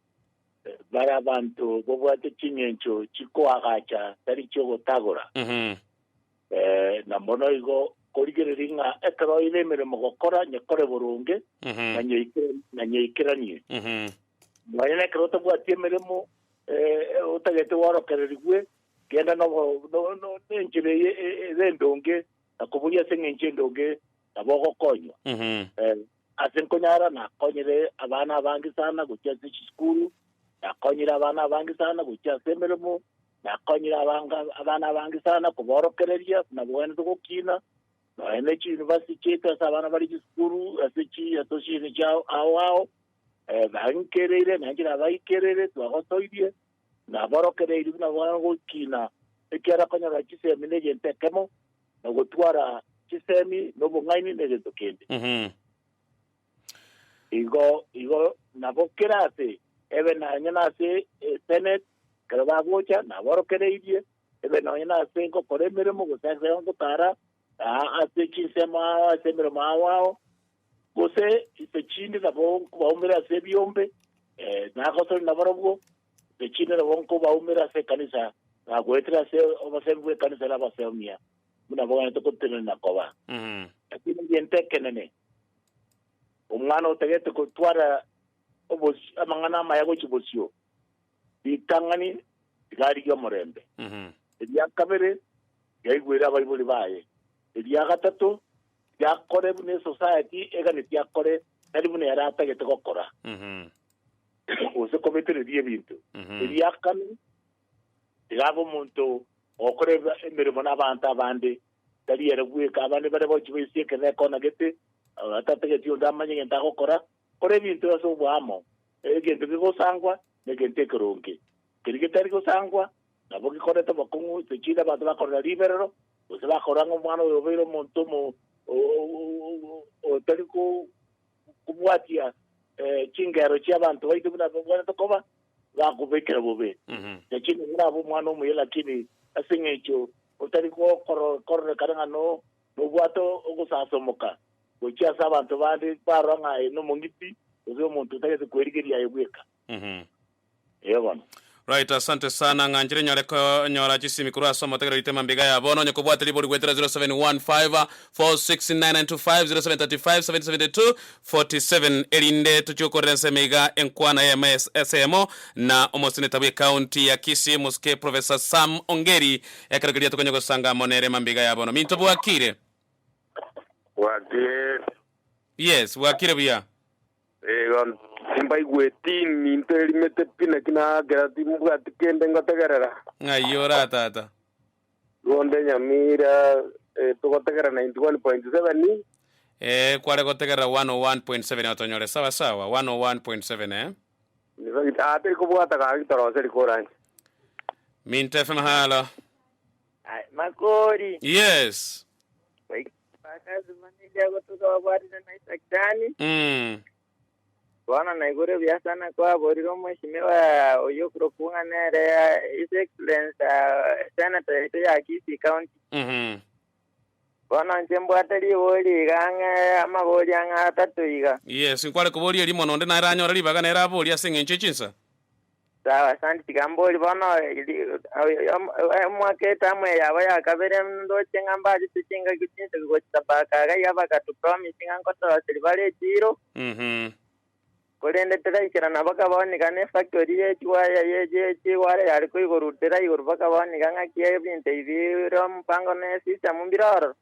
Bare abanto babwate ching'encho chikoagacha tari chi'ogotagora, Mhm. eh, na mono igo korigereria ng'a ekero oire emeremo gokora nyekore boronge Mhm. na nyeike- na nyeikeranie. Mhm. Nonya na ekero otabwati emeremo eh, otagete gworokererigwe, genda nobo- no- no- nenchera eye e- ere endonge na koboria ase eng'encho endonge nabo ogokonywa. Mhm. Eh, Ase nkonyara nakonyire abana abange sana gochia ase chisukuru, nakonyire abana abange sana gochia ase emeremo, nakonyire abanga- abana abange sana kobaorokereria buna bogwenerete gokiina, nonya ne chiyunivasiti chiaito ase abana bare chisukuru ase chi association chia ao ao, eh, bainkereire na inche nabaikereire twagotoirie, nabaorokereirie buna bogwenerete gokiina, ekiagera konyora chisemina egento ekemo, na ogotwara chisemi na obong'aini na egento kende. Mhm. Igo igo nabo kera ase ebe nonye nase eseneti, ekero bagocha naborokereirie, ebe nonye nase gokora emeremo, gose ase gotara, aa ase chinsemo ao, ase emeremo ao ao, gose inse chinde nabo nkobaumera ase ebiombe, eh, nagosorire nabarobwo, Ne chinde nabo nkobaumera ase ekanisa, na goetera ase obosaimi bw'ekanisa na abasomia, buna bagaanete gotenena koba. Lakini egento ekenene, omwana otagete gotwara obos- amang'ana amaya gochia bosio, ritang'ani tiga rigie omorembe. Eria kabere yaigwere abaibori baye. Eria gatato tiga akore buna esociety eganeti akore, tari buna ere atagete gokora. gose kobetereria ebinto ebiakanwa, tiga abe omonto ogokora eb- emeremo n'abaanto abande, tari ere bweka, abande bare bochi baisie ekeene ekonagete, ah, tatageti onde amanye egento agokora. Kora ebinto ase oboamo, egento kegosangwa negento ekeronge, keria getari gosangwa nabo gekoreta obokong'u, sechiira abanto bakorora riberero, gose bakorora ng'a omwana oyo obeire omonto omo- o- o- o- otari ko- kobwatia eh, chingero chi'abanto baito buna babwanete koba, bakobekera bobe. Na chinde orabe omwana omuya, lakini ase eng'encho otari gokoro- kororekana ng'a no nobwate ogosasomoka gochia ase abanto bande, barora ng'a aye nomong'iti, gose omonto otagete kwerigeria aye bweka. Ee bono. Right asante sana ng'anchire nyore konyora chisimi korwa ase omotegereri tema mbiga ya bono onye kobwate ribori gwetera 0715469925 0735772247 erinde tochie gokorera ense ime iga enkwana eyemo esemo na omoseneta bwe county ya kisii moske professor Sam ongeri ekero keria tokonye gosanga amo nere mambiga ya bono minto bwakire Bwakire. yes bwakire buya. Igo timbaigweti ninto erimete pi, naki nakera timbwati kende ngotegerera. Ng'ai ora tata? Ronde Nyamira, eh, togotegerera 91.7, eh. Ee, kware gotegerera 101.7 otonyore sawa sawa, 101.7, ee. Nigo git- ah, teri kobwata gaki torose rikoranche. Minto FM halo. Ai, Makori, Yes. wai- Bakasima ninche agotoka babwarire na Isaac Dani. Mm. Bono naigure buya sana kwaborire omweshimiwa oyo kurokung'a nere ah, His Excellence ah, Senator yaito ya Kisii County. Mhm. Bono nche mbwate riboyo riga ang'e amabori ang'e atato iga. Yes, nkware koboria erimo nonde naye ranyore ribaga nere aboria ase eng'encho echinsa. Sawa, asante. Tiga mbori bono emwaka etamu eye yabo ya kabere ndoche ng'a mbaachete chingaki chinsa gochia baaka iga iga bagatopromise ng'a nkotoa silibara echiiro, Mhm. korende tiraikera nabo bakabao niga nefactori ye chiwaya ye ye chiwaya yare koigorutera igoro bakabao niga ng'aki ebinto ebi bire omopango ne esisitemu mbire ororo.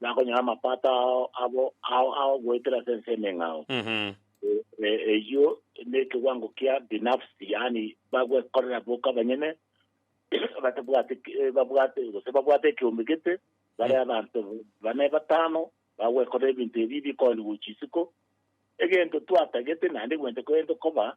nakonyora amapato ao abo ao ao goetera ase ense emeng'ao. E- eyio nekewango kia binafsi yaani bagwekorera boka abanyene batabwate ki- eh, babwate gose babwate ekeombe gete bare abanto bane batano bagwekorera ebinto ebi bikoani gochia isiko egento twatagete naende gwente korente koba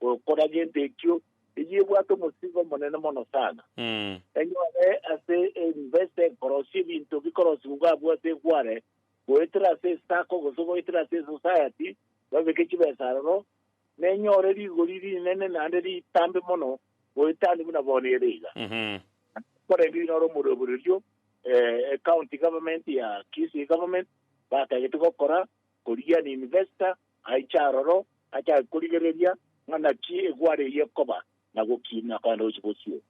gokora gento ekio, eyio ebwate omosingo omonene mono sana. Mm. Enyore ase embesa ekorosia ebinto bikorosiwa bwabwate egware, goetera ase esako gose goetera ase esociety, babeke chibesa aroro, nenyore rigori rinene naende ritambe mono goetania buna bono ere iga. Mhm. Korende oino ore omoruobererio eh, county government ya Kisii government batagete gokora korigia an investor aiche aroro, achake korigereria ng'a naki egwara eyio ekoba, na gokiina korende gochia gosio.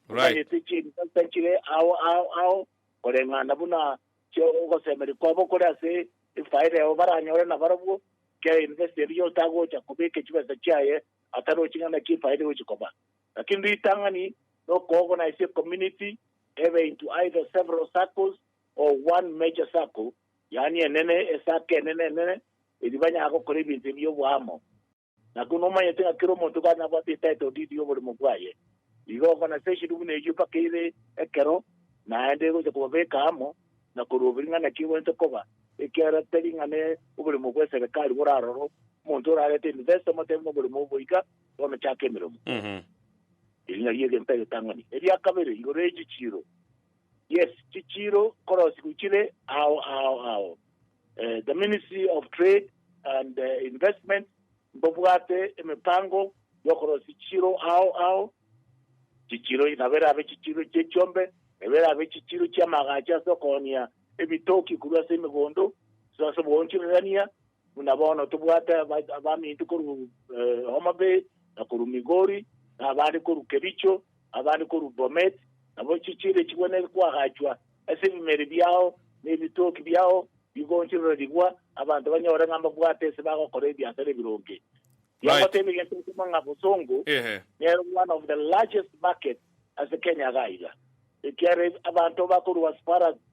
Omanyete chinsa tachire ao ao ao, koreng'ana buna chia ogosemeria kwabo kore ase efaida yabo baranyore nabarobwo, kera investa eria otagocha kobeka chibesa chiaye atarochi ng'a naki efaida egochia koba. Lakini ritang'ani nokoorganize ecommunity, ebe into either several circles or one major circle, Yaani enene, esaaka enene enene, erio banyare gokora ebinto ebi oboamo. Na kono omanyete ng'a kera omonto igo anabwate etitle deed y'oborimo bwaye. Igo ogonasesinwa buna eyio mpaka ere ekero naende egocha kobabeka amo na koruoberia ng'a naki egwenerete koba, ekiagera tari ng'a ne oborimo bw'eserekari borarorwe omonto orarete investor omotebe noborimo obo iga, bono chaka emeremo. Eri nario egento egetang'ani. Eria kabere, igoro y'echichiiro. Yes, chichiiro korosigu chire ao ao ao. Eh, the Ministry of Trade and eh, Investment mbobwate emepango yokorosi chiiro ao ao chichiro nabo erabe chichiro chi'echiombe nabo erabe chichiro chi'amagacho ase okohonia ebitoki korwa ase emegondo so ase oboonchorerania Buna bono tobwate abaminto korwa Homa Bay, na korwa Migori, na abande korwa Kericho, na abande korwa Bomet, nabo chichiire chigwe ne kwagachwa ase ebimeri biao, na ebitoki biao bigoonchorerigwa, abanto banyore ng'a mbabwate ase bagokora ebiasara ebironge. Tiagoteebia egento asemo ng'a bosongo nere one of the largest market ase Kenya iga iga, ekiagera abanto bakorwa as far as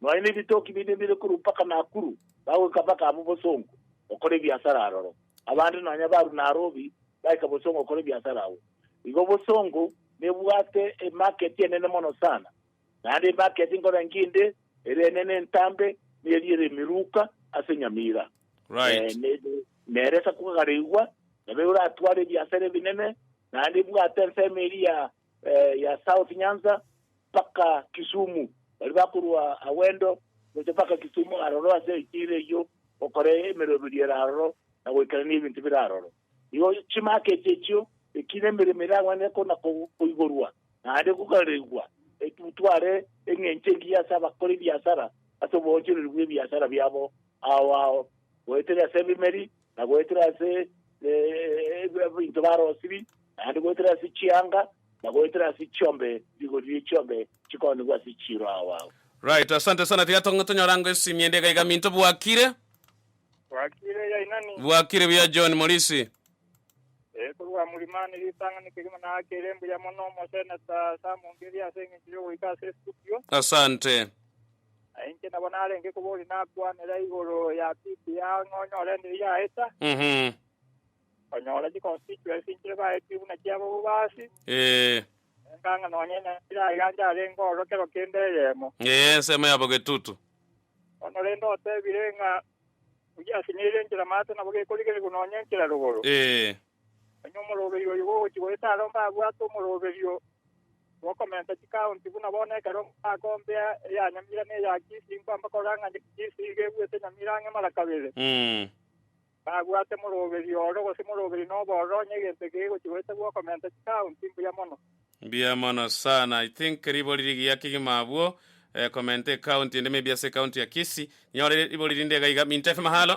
Nonya nebitoki binde mbire korwa mpaka Nakuru, bagoika mpaka abwo Bosongo gokora ebiasara aroro. Abande nonya barwa Narobi baika Bosongo gokora ebiasara agwo. Igo Bosongo nebwate emarket enene mono sana. Naende emarket nkorangeria inde ere enene entambe neri ere Emiruka ase Nyamira. Right. Nere esakogare igwa nabo eratwara ebiasara ebinene naende ebwate ensemo eria ya eh, ya South Nyanza mpaka Kisumu, bari bakorwa Awendo gocha mpaka Kisumu aroro ase echiira eyio gokora emeroberio ere aroro na goikerania ebinto bire aroro. Igo chimaka echi echio ekina emeremo eragwenerete ko na ko- koigorwa naende gokarerigwa etutware eng'encho engiya ase abakora ebiasara ase oboonchoreria bw'ebiasara biabo ao ao goetera ase ebimeri na goetera ase ebinto barosirie, naende goetera ase chianga, na goetera ase chiombe, rigoririe chiombe chikoonigwa ase chiiro ao ao. Right, asante sana. Tiga to- tonyore ango esimi ende iga iga minto bwakire. Bwakire ya inani. Bwakire buya John Morisi. Eh, korwa Mulimani ritang'ani kegima nakere mbuya mono omoseneta Sam Ngeri ase eng'encho yogoika ase estudio. Asante. Na inche nabo narenge koboria nakwanera igoro ya pipi ya ng'a onyore endiiri yaeta, Mhm. onyora chiconstituency inchire baetie buna chiabo bobasi, Eh, enganga nonya enyachire aiga nche arenge ororo kero kende eyemo. eh, ensemo yabo getutu. Bono rende otebire ng'a ogiasinyeire enchera maate nabo gekorigerigwa nonya enchera rogoro. Eh, Onye omoroberio oyo bw'ogochia goeta aro mbabwate omoroberio bw'okomenta chikaonti buna bono ekero mbakombea eya nyamira na eya kisi, inkwa mbakora ng'a kisi iga ebuete nyamira ang'e mara kabere. Mbabwate moroberio oro, gose moroberio na obororo, onye egento eke gegochia goeta bw'okomenta chikaonti, mbuya mono. Mbuya mono sana. I think ribori rigiya kegima abwo, eh, komenta ekaonti ende maybe ase ekaonti ya Kisii. Nyore ribori rinde iga iga. Minto FM halo.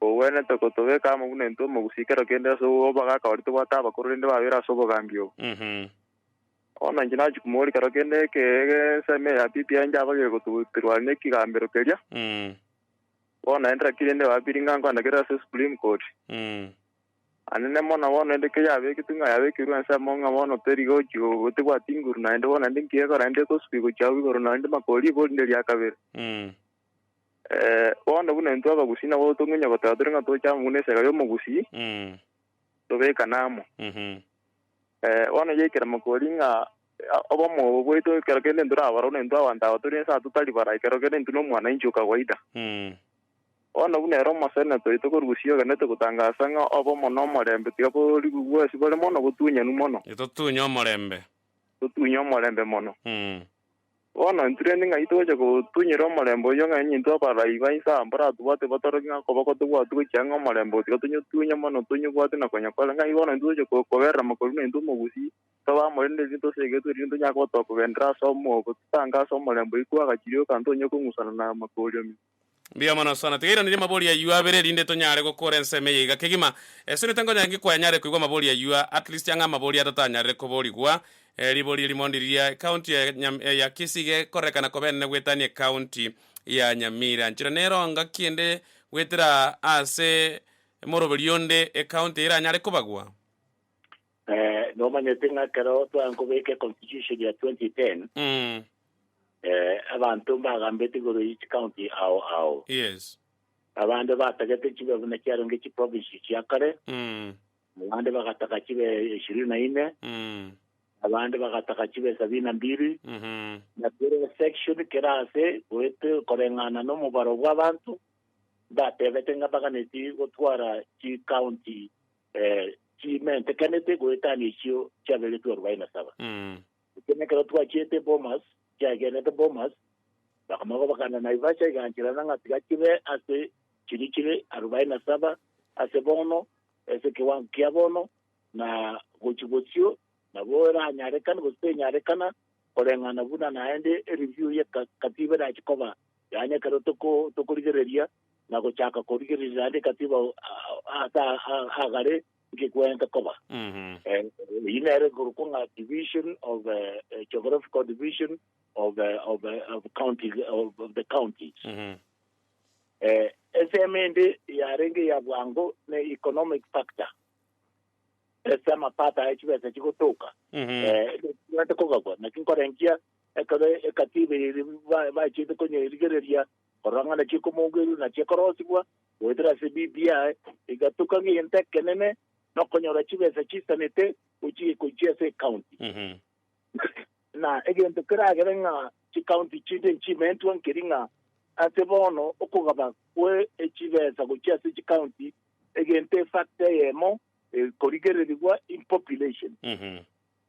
Kogwenerete kotobeka amo buna intwe omogusii kero kende ase obwo bagakore tobwate abakoro rende babere ase obogambi obo. Bono inche nachia komoboria kero kende eke esemo eye ya bibi enche abagere gototirwa nekigambero keria. Bono naende naki rende babiri ng'a nkoanakerere ase Supreme Court. Anene mono bono rende ke yabeketwe ng'a yabekirwe ensemo ng'a bono teri gochi go tebwati nguru naende bono naende nkiekora naende ekosuka igochi agwo igoro naende makori borinderia kabere. Eh, bono buna intwe abagusii nabo totong'unya goteba tore ng'a tocha amo buna esega y'omogusii, Mm. tobekane amo. Mhm. Eh, bono yaikera mokori ng'a eh, obomo bwaito ekero kende ntorabara buna intwe abanto aba tore ense aba totari bara, ekero kende intwe nomwanainchi o kawaida. Mm. Bono buna ere omoseneto oito korusia ogenete gotangasa ng'a obomo na omorembe tiga bori bwesi bore mono botunyanu mono, Totunye omorembe. totunye omorembe mono. Mm. Bono ntureti ng'ai togocha gotunyera omorembe oyio ng'a intwe abarai ba Isaya mboratobwate batoroki ng'a koba kotobwati gochia ng'a omorembe otiga tonyotunya mono tonyobwate na konya kore. Ng'ai bono intwe togocha koberera mokorua na intwe omogusii tobe amo rende riria tosegetwe riria tonyare koba tokogendera ase omwobo totange ase omorembe oyio kwagachire oka ntonye kong'usana na amakooriomi. Mbuya mono Sona. Tiga iranirie amabori ayio abere erinde tonyare gokora ensemo eye iga kegima. Esenete nkonyange kwa nyare koigwa amabori ayio at least ang'e amabori atato anyarire koborigwa. Ribori eri mondi riria ecounty ya Nyam ya Kisii iga ekorekana koba enene goetania ecounty ya Nyamira. Nchera nero ngaki ende goetera ase moroberi onde ecounty eye eranyare kobagwa? Eh, nomanyete ng'a ekero twankobeka econstitution ya 2010 Mm. eh, abanto mbagambete igoro yi chicounty ao ao Yes. abande batagete chibe buna chiaronge chiprovince chia kare Mm. abande bagataka chibe ishirini na ine Mm. abande bagataka chibe sabini na mbili Mhm. na kere section kera ase goete koreng'ana nomobaro bw'abanto mbatebete ng'a baganeti gotwara chicounty Eh, chimentekanete goetania echio chiaberetwe arobaini na saba. Mm. Ekio nekero twachiete Bomas, chiagenete Bomas, bakamaka bakana Naivasha igancherana ng'a tiga chibe ase chiri chire arobaini na saba ase bono, ase ekewango kia bono, na gochi bosio nabo eranyarekane gose tenyarekana koreng'ana buna naende ereview ye ka- katiba erache koba, yaani ekero toko- tokorigereria na gochaka korigereria ande katiba ase agare nkegwenta koba. Eyio nere ekorokwa ng'a division of geographical division of of of county of the counties. Ensemo ende yarenge ya bwango ne economic factor ase amapato aye chibesa chigotoka ekegwenta kogabwa naki nkorengia ekero ekatiba eye bachete konyerigereria korora ng'a naki ekomoongeirie naki ekorosibwa goetera ase ebibi yaye, egatuka ng'egento ekenene, na okonyora chibesa chiisanete gochia gochia ase ecounty. Na egento keragere ng'a chicounty chinde nchimentwe nkeri ng'a ase bono okogaba kwe echibesa gochia ase chicounty egento efactor eyemo ekorigererigwa in population.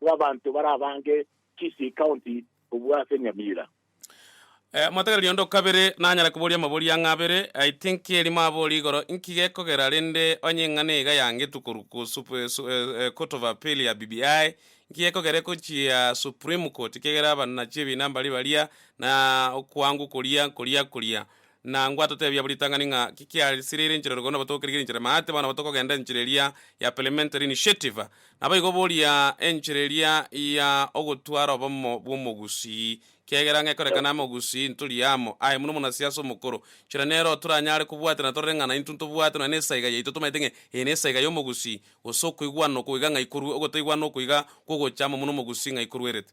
bw'abanto barabange Kisii County kobua ase Nyamira. Mwatagera riondo kabere nanyare koboria amabori ang'e abere. I think erimo abori igoro inki gekogera rende onye eng'ana iga ya ngetu korwa ku court of appeal ya BBI inki gekogera egochia supreme court kiagera abannachi ebina mbari baria na okwangu koria nkoria koria. Na ngwatoteebie abwo ritang'ani ng'a ki kiarisireire enchera ororo kono nabatookerigere enchera emate, bono nabo tokogenda enchera eria ya Parliamentary Initiative. Naboigo boria enchera eria ya ogotwara obomo bw'omogusii, kiagera ngekorekana amo ogusii ntori amo aye buna omonasiasa omokoro, nchera nero otoranyare kobwatera na torore ng'a naintwe ntobwate nonya nesaiga yaito tomaete ng'a eye nesaiga y'omogusii, gose okoigwana oko iga ng'a ikorwe, ogotaigwana oko iga kw'ogocha amo buna omogusii ng'a aikoruerete.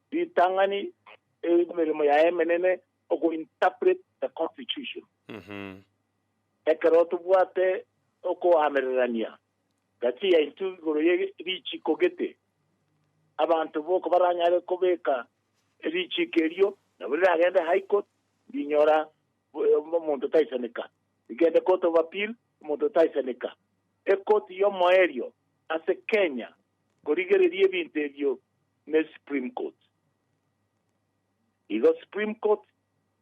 Ritang'ani eri nemeremo yaye emenene okointerpret the constitution. Ekero tobwate okoamererania gati yaintwe igoro ye richiiko gete, abanto boko baranyare kobeka richiiko erio nabo riragende High Court rinyora omonto otaisaneka, rigende Court of Appeal omonto otaisaneka. Ekoti y'omoerio ase Kenya korigereria ebinto ebio ne Supreme Court. Igo Supreme Court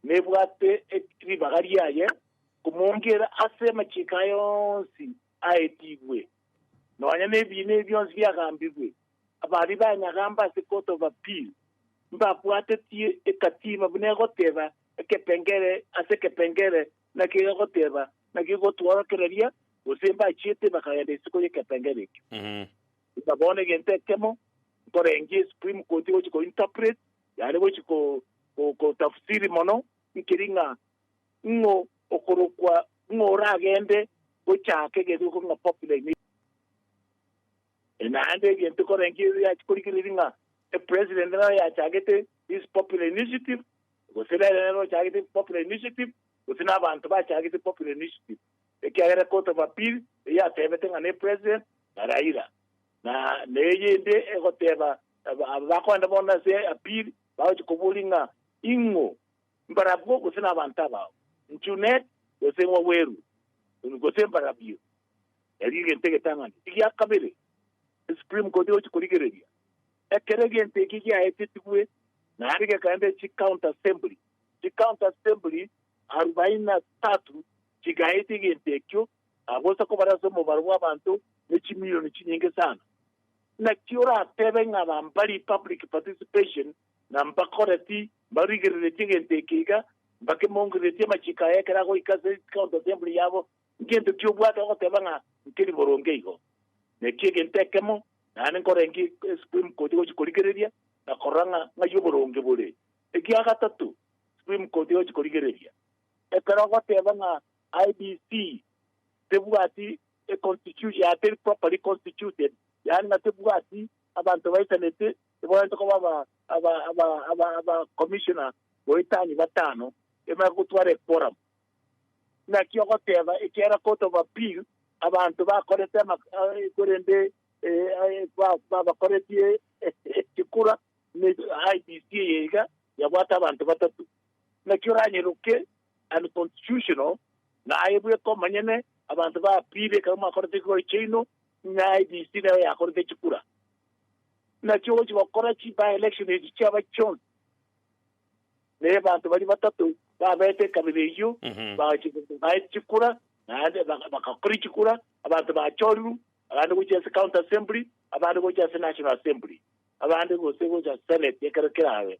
nebwate ribaga riaye komoongera ase amachiko aye onsi aetigwe, nonya nebiina ebi bionsi biagambigwe. Abaria banyagamba ase Court of Appeal mbabwatetie ekatiba buna egoteba ekepengere ase ekepengere naki egegoteba naki egotworokereria, gose mbachiete bakagenda isiko y'ekepengere ekio. Buna bono egento ekemo nkorengie esupreme court egochi ko interpret, yaani gochi kotafsiri mono nkeri ng'a ng'o okorokwa ng'o oragende gochaaka egento egekorwa ng'a popular in Egypt. Naende egento nkorengia eria chikorigereria ng'a epresident nere oyachagete this popular initiative, gose nere nere ochagete popular initiative, gose nabanto bachagete popular initiative. Ekiagera Court of Appeal eyateebete ng'a ne President na Raila, na neyende egoteba aba bakogenda bono ase appeal bagochia koboria ng'a ing'o mbarabwo gose nabanto abao, Njunet gose Waweru gose mbarabio, erio egento egetang'ani egia kabere Supreme Court egochia korigereria. Ekero egento eke giaetetigwe naende gekaenda chi County Assembly, chi County Assembly arubaini na tatu chigaeta egento ekio, na gocha kobare ase omobaro bw'abanto ne chimilioni chinyinge sana. Naki oratebe ng'a bambari, public participation, na mbakore ti mbarigereretie egento eke iga, mbakemongereretie amachiko aye ekero agoika ase county assembly yabo? Ngento ki obwate ogoteba ng'a nkeri boronge igo? Naki egento ekemo naende nkorenge esupreme court egochi korigereria na korora ng'a ng'ai oboronge bore. Egia gatato, supreme court egochi korigereria. Ekero ogoteba ng'a IEBC tebwati a constitution ya teri properly constituted yaani ng'a tebwati abanto baisanete tibawenerete koba aba aba aba aba aba commissioner goetania batano ebare gotwara e quorum naki ogoteba ekiagera court of appeal abanto bakorete ama eh, korende eh, eh, ba- ba- bakoretie ekikura ne IEBC eye iga yabwate abanto batatu Naki oranyeroke unconstitutional naye bweka omonyene abanto bapire ekero mwakorete ekegori kiaino ng'a IEBC nero yakorete chikura naki ogochi gokora chi by election echi chiaba chionsi na abanto baria batato babete ekabira eyio baete chikura naende bakakoria chikura abanto bachoriru abande gochia ase county assembly abande gochia ase national assembly abande gose gochia senate ekero kerabe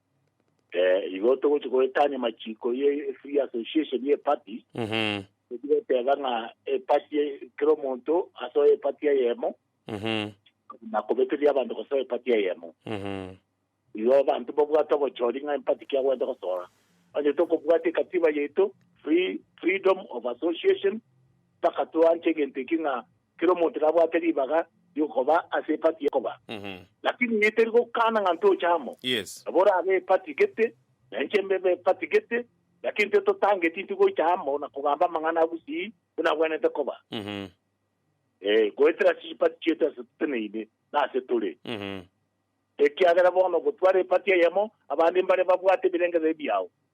Eh, igo togochi goetania machiko ye free association ye party Mhm. tochi goteba ng'a epati kera omonto asoe epati eyemo Mhm. na kobeteria abanto gosoa epati eyemo Mhm. igo abanto babwate obochori ng'a empati ki agwete gosoa onye tokobwata ekatiba yaito free freedom of association mpaka toanche egento eki ng'a kera omonto nabwate ribaga riokoba ase epati y'okoba, lakini inche teri gokana ng'a ntoche amo. Nabo orabe epati gete, na inche mbebe epati gete, lakini tototangeti inche gocha amo na kogamba amang'ana a bosii buna abwenerete koba, ee, goetera ase chipati chiaito ase toteneine, na ase tore. Ekiagera bono gotwara epati eyemo, abande mbare babwate ebirengererio biao,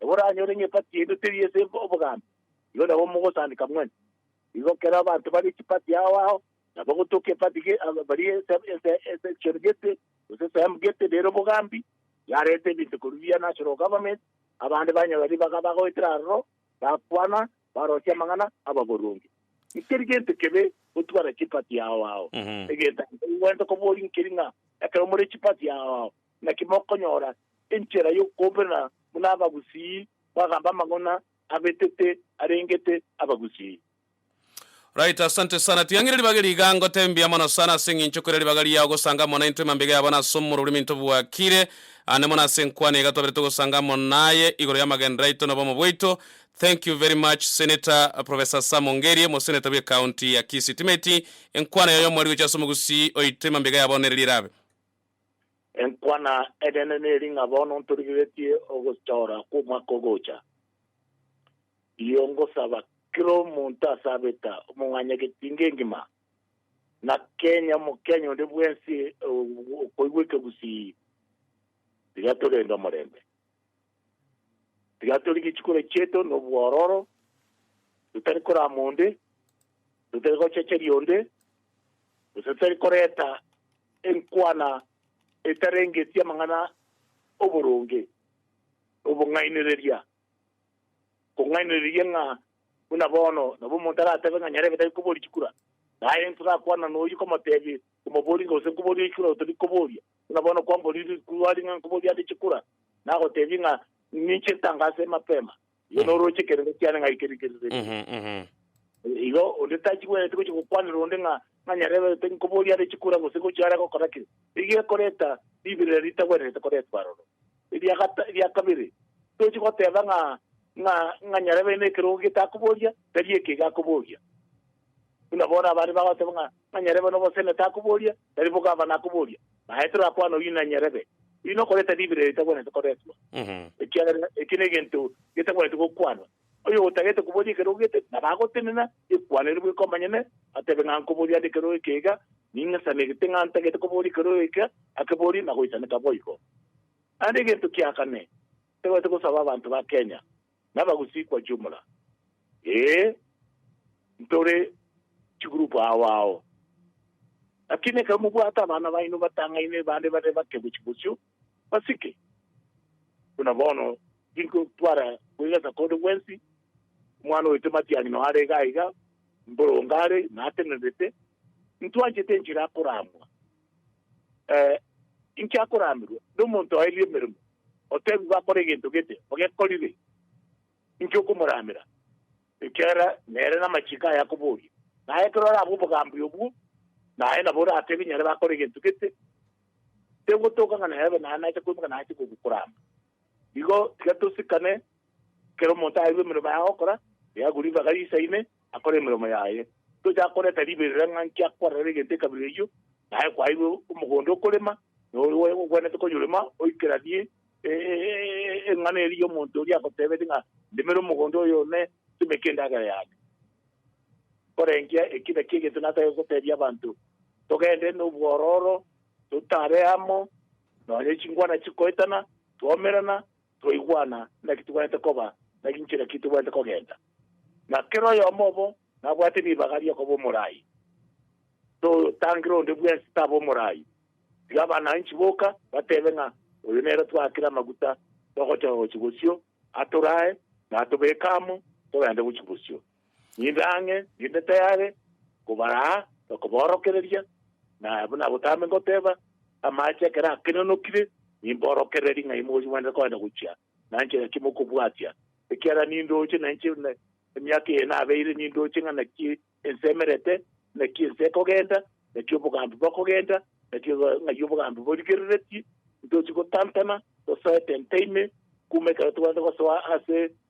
Nabo oranyore ng'a epati yaito teri ase obogambi, igo nabo mogosaandeka mwane. Igo ekero abanto bare chipati ao ao, nabo gotoka epati ge bari esection gete, gose esehemu gete nere obogambi, yareta ebinto korwa via national government, abande banyabari baka bagoetera aroro, bakwana, barosia amang'ana ababoronge. Nkeri gento kebe gotwara chipati ao ao, egento nigo kwagete koboria nkeri ng'a ekero more chipati ao ao, Naki mokonyora enchera y'okobena buna abagusii, bagamba amang'ana abetete arengete abagusii. Right asante sana ting'ang'ire ribaga eri iga ngote mbuya mono sana ase eng'encho ekorera ribaga riao gosanga amo naintwe mambega yabo nase omoruremi ntobwakire ande mono ase enkwano iga twaberete gosanga amo naye igoro y'amagenderero aito na obomo bwaito thank you very much senator professor Sam Ongerie omoseneta bwe county ya Kisii timeti enkwano yaye omwari gocha ase omogusii oito emambega yabo nere ri'erabe Enkwana eneene neri ng'a bono ntorigeretie ogotoora kw'omwaka ogocha. Rigia ngosaba kera omonto ase abeta, omong'anyagetinga engima, na kenya Omokenya onde bwensi okoigwa ekegusii, tiga torende omorembe. Tiga tore gechikoro chiaito nobwororo, totari korama onde, totari gochecheria onde, gose totari koreta enkwana etarengeti amang'ana 'oboronge, obong'ainereria, kong'ainereria ng'a buna bono nabo omonto aratebe ng'a nyarebe tari koboria chikura, naye ntorakwana noyio komotebie, Omoborie, gose nkoborie chikura otari koboria. Buna bono kwamboria rituari ng'a nkoboria ande chikura, nagoteebia ng'a ninche ntange ase emapema, igo noroche ekerero kiane ng'a eke rikerero eke. Mhm, mhm. Igo onde tachigwenereti gochia gokwanera onde ng'a ng'a nyareberete nkoboria ande chikura gose gochia are gokora ki, rigiya ekoreta ribirire ritagwenerete koretwa aroro. Eria gata- eria kabere, tochi goteeba ng'a ng'a ng'a nyarebere na ekerogo getakoboria, tari eke iga akoboria. Buna bono abande bagoteeba ng'a ng'a nyarebere na obosemi takoboria, Tari bokamba nakoboria, naye torakwane oyio nanyarebe. Oyio nokoreta ribera eritagwenerete koretwa, ekiagera ekio negento getagwenerete gokwanwa. Oyo otagete koboria ekero ogete, nabo agotenena, ekwanere bweka omonyene, atebe ng'a nkoborie ande ekero oeke iga, ning'e sane gete ng'a ntagete koboria ekero oeke, akeborie, nagoisaneka boigo. Naende egento kia kane, titagwenerete gosaba abanto ba Kenya, nabagusii kwa jumla, ee, ntore chigroup ao ao. Lakini ekero mobwate abana baino batang'aine bande bare bake gochia bosio, basike. Buna bono tinko twara kwegesa konde gwensi, omwana oito matiani no are iga iga, mborongo are, natenerete, ntwanchete enchera akoramwa. Ee, inki akoramirwe nomonto oerie emeremo, otebigwe akore egento gete ogekorire? Inki okomoramera? Ekiagera nere namachiko aye akoboria, naye ekero orabe obogambi obwo, naye nabo oratebe nyare bakore egento gete. Tegotooka ng'a naye abe naye nache koimoka na ache kogokorama. Igo tiga tosikane kera omonto aeirwe emeremo yaye agokora, riago ribaga riisaine, akore emeremo yaye. Tochaka koreta riberera ng'a nki akwarerera egento ekabere eyio, naye kwaeirwe omogondo okorema, na oyo ogwenerete konyorema oikeranie eng'ana eria y'omonto oria agoteebete ng'a, Ndimera omogondo oyo one, timeka endagera yane. Nkorengia eki na eki egento natagete goteebia abanto, togende nobwororo, totare amo, nonye chingwana chikoetana, twomerana, twaigwana naki tobwenerete koba, na ginchera ki tobwenerete kogenda. Na kera oyomo obo nabwate ribaga ri'okoba omoraai. Totangera onde bwensi tabe omoraai, tiga abanaanchi boka batebe ng'a oyo nere twaakire amaguta togocha gochia bosio, atoraae na atobeke amo togende gochia bosio. Ninde ang'e, ninde tayare kobaraa na koboorokereria, na abwo nagotaame ngoteeba, Amaache ekero akenenokire, nimboorokererie ng'ai mochimanyete koenda gochia, na nchera ki mokobwatia, ekiagera nindooche, na inche emiaka eye nabeire nindooche ng'a naki ense emerete, naki ense ekogenda, naki obogambi bokogenda, naki ng'ai obogambi borigereretie, ntoochi gotantana, tosoete ntaime, kuuma ekero togwenerete gosoa ase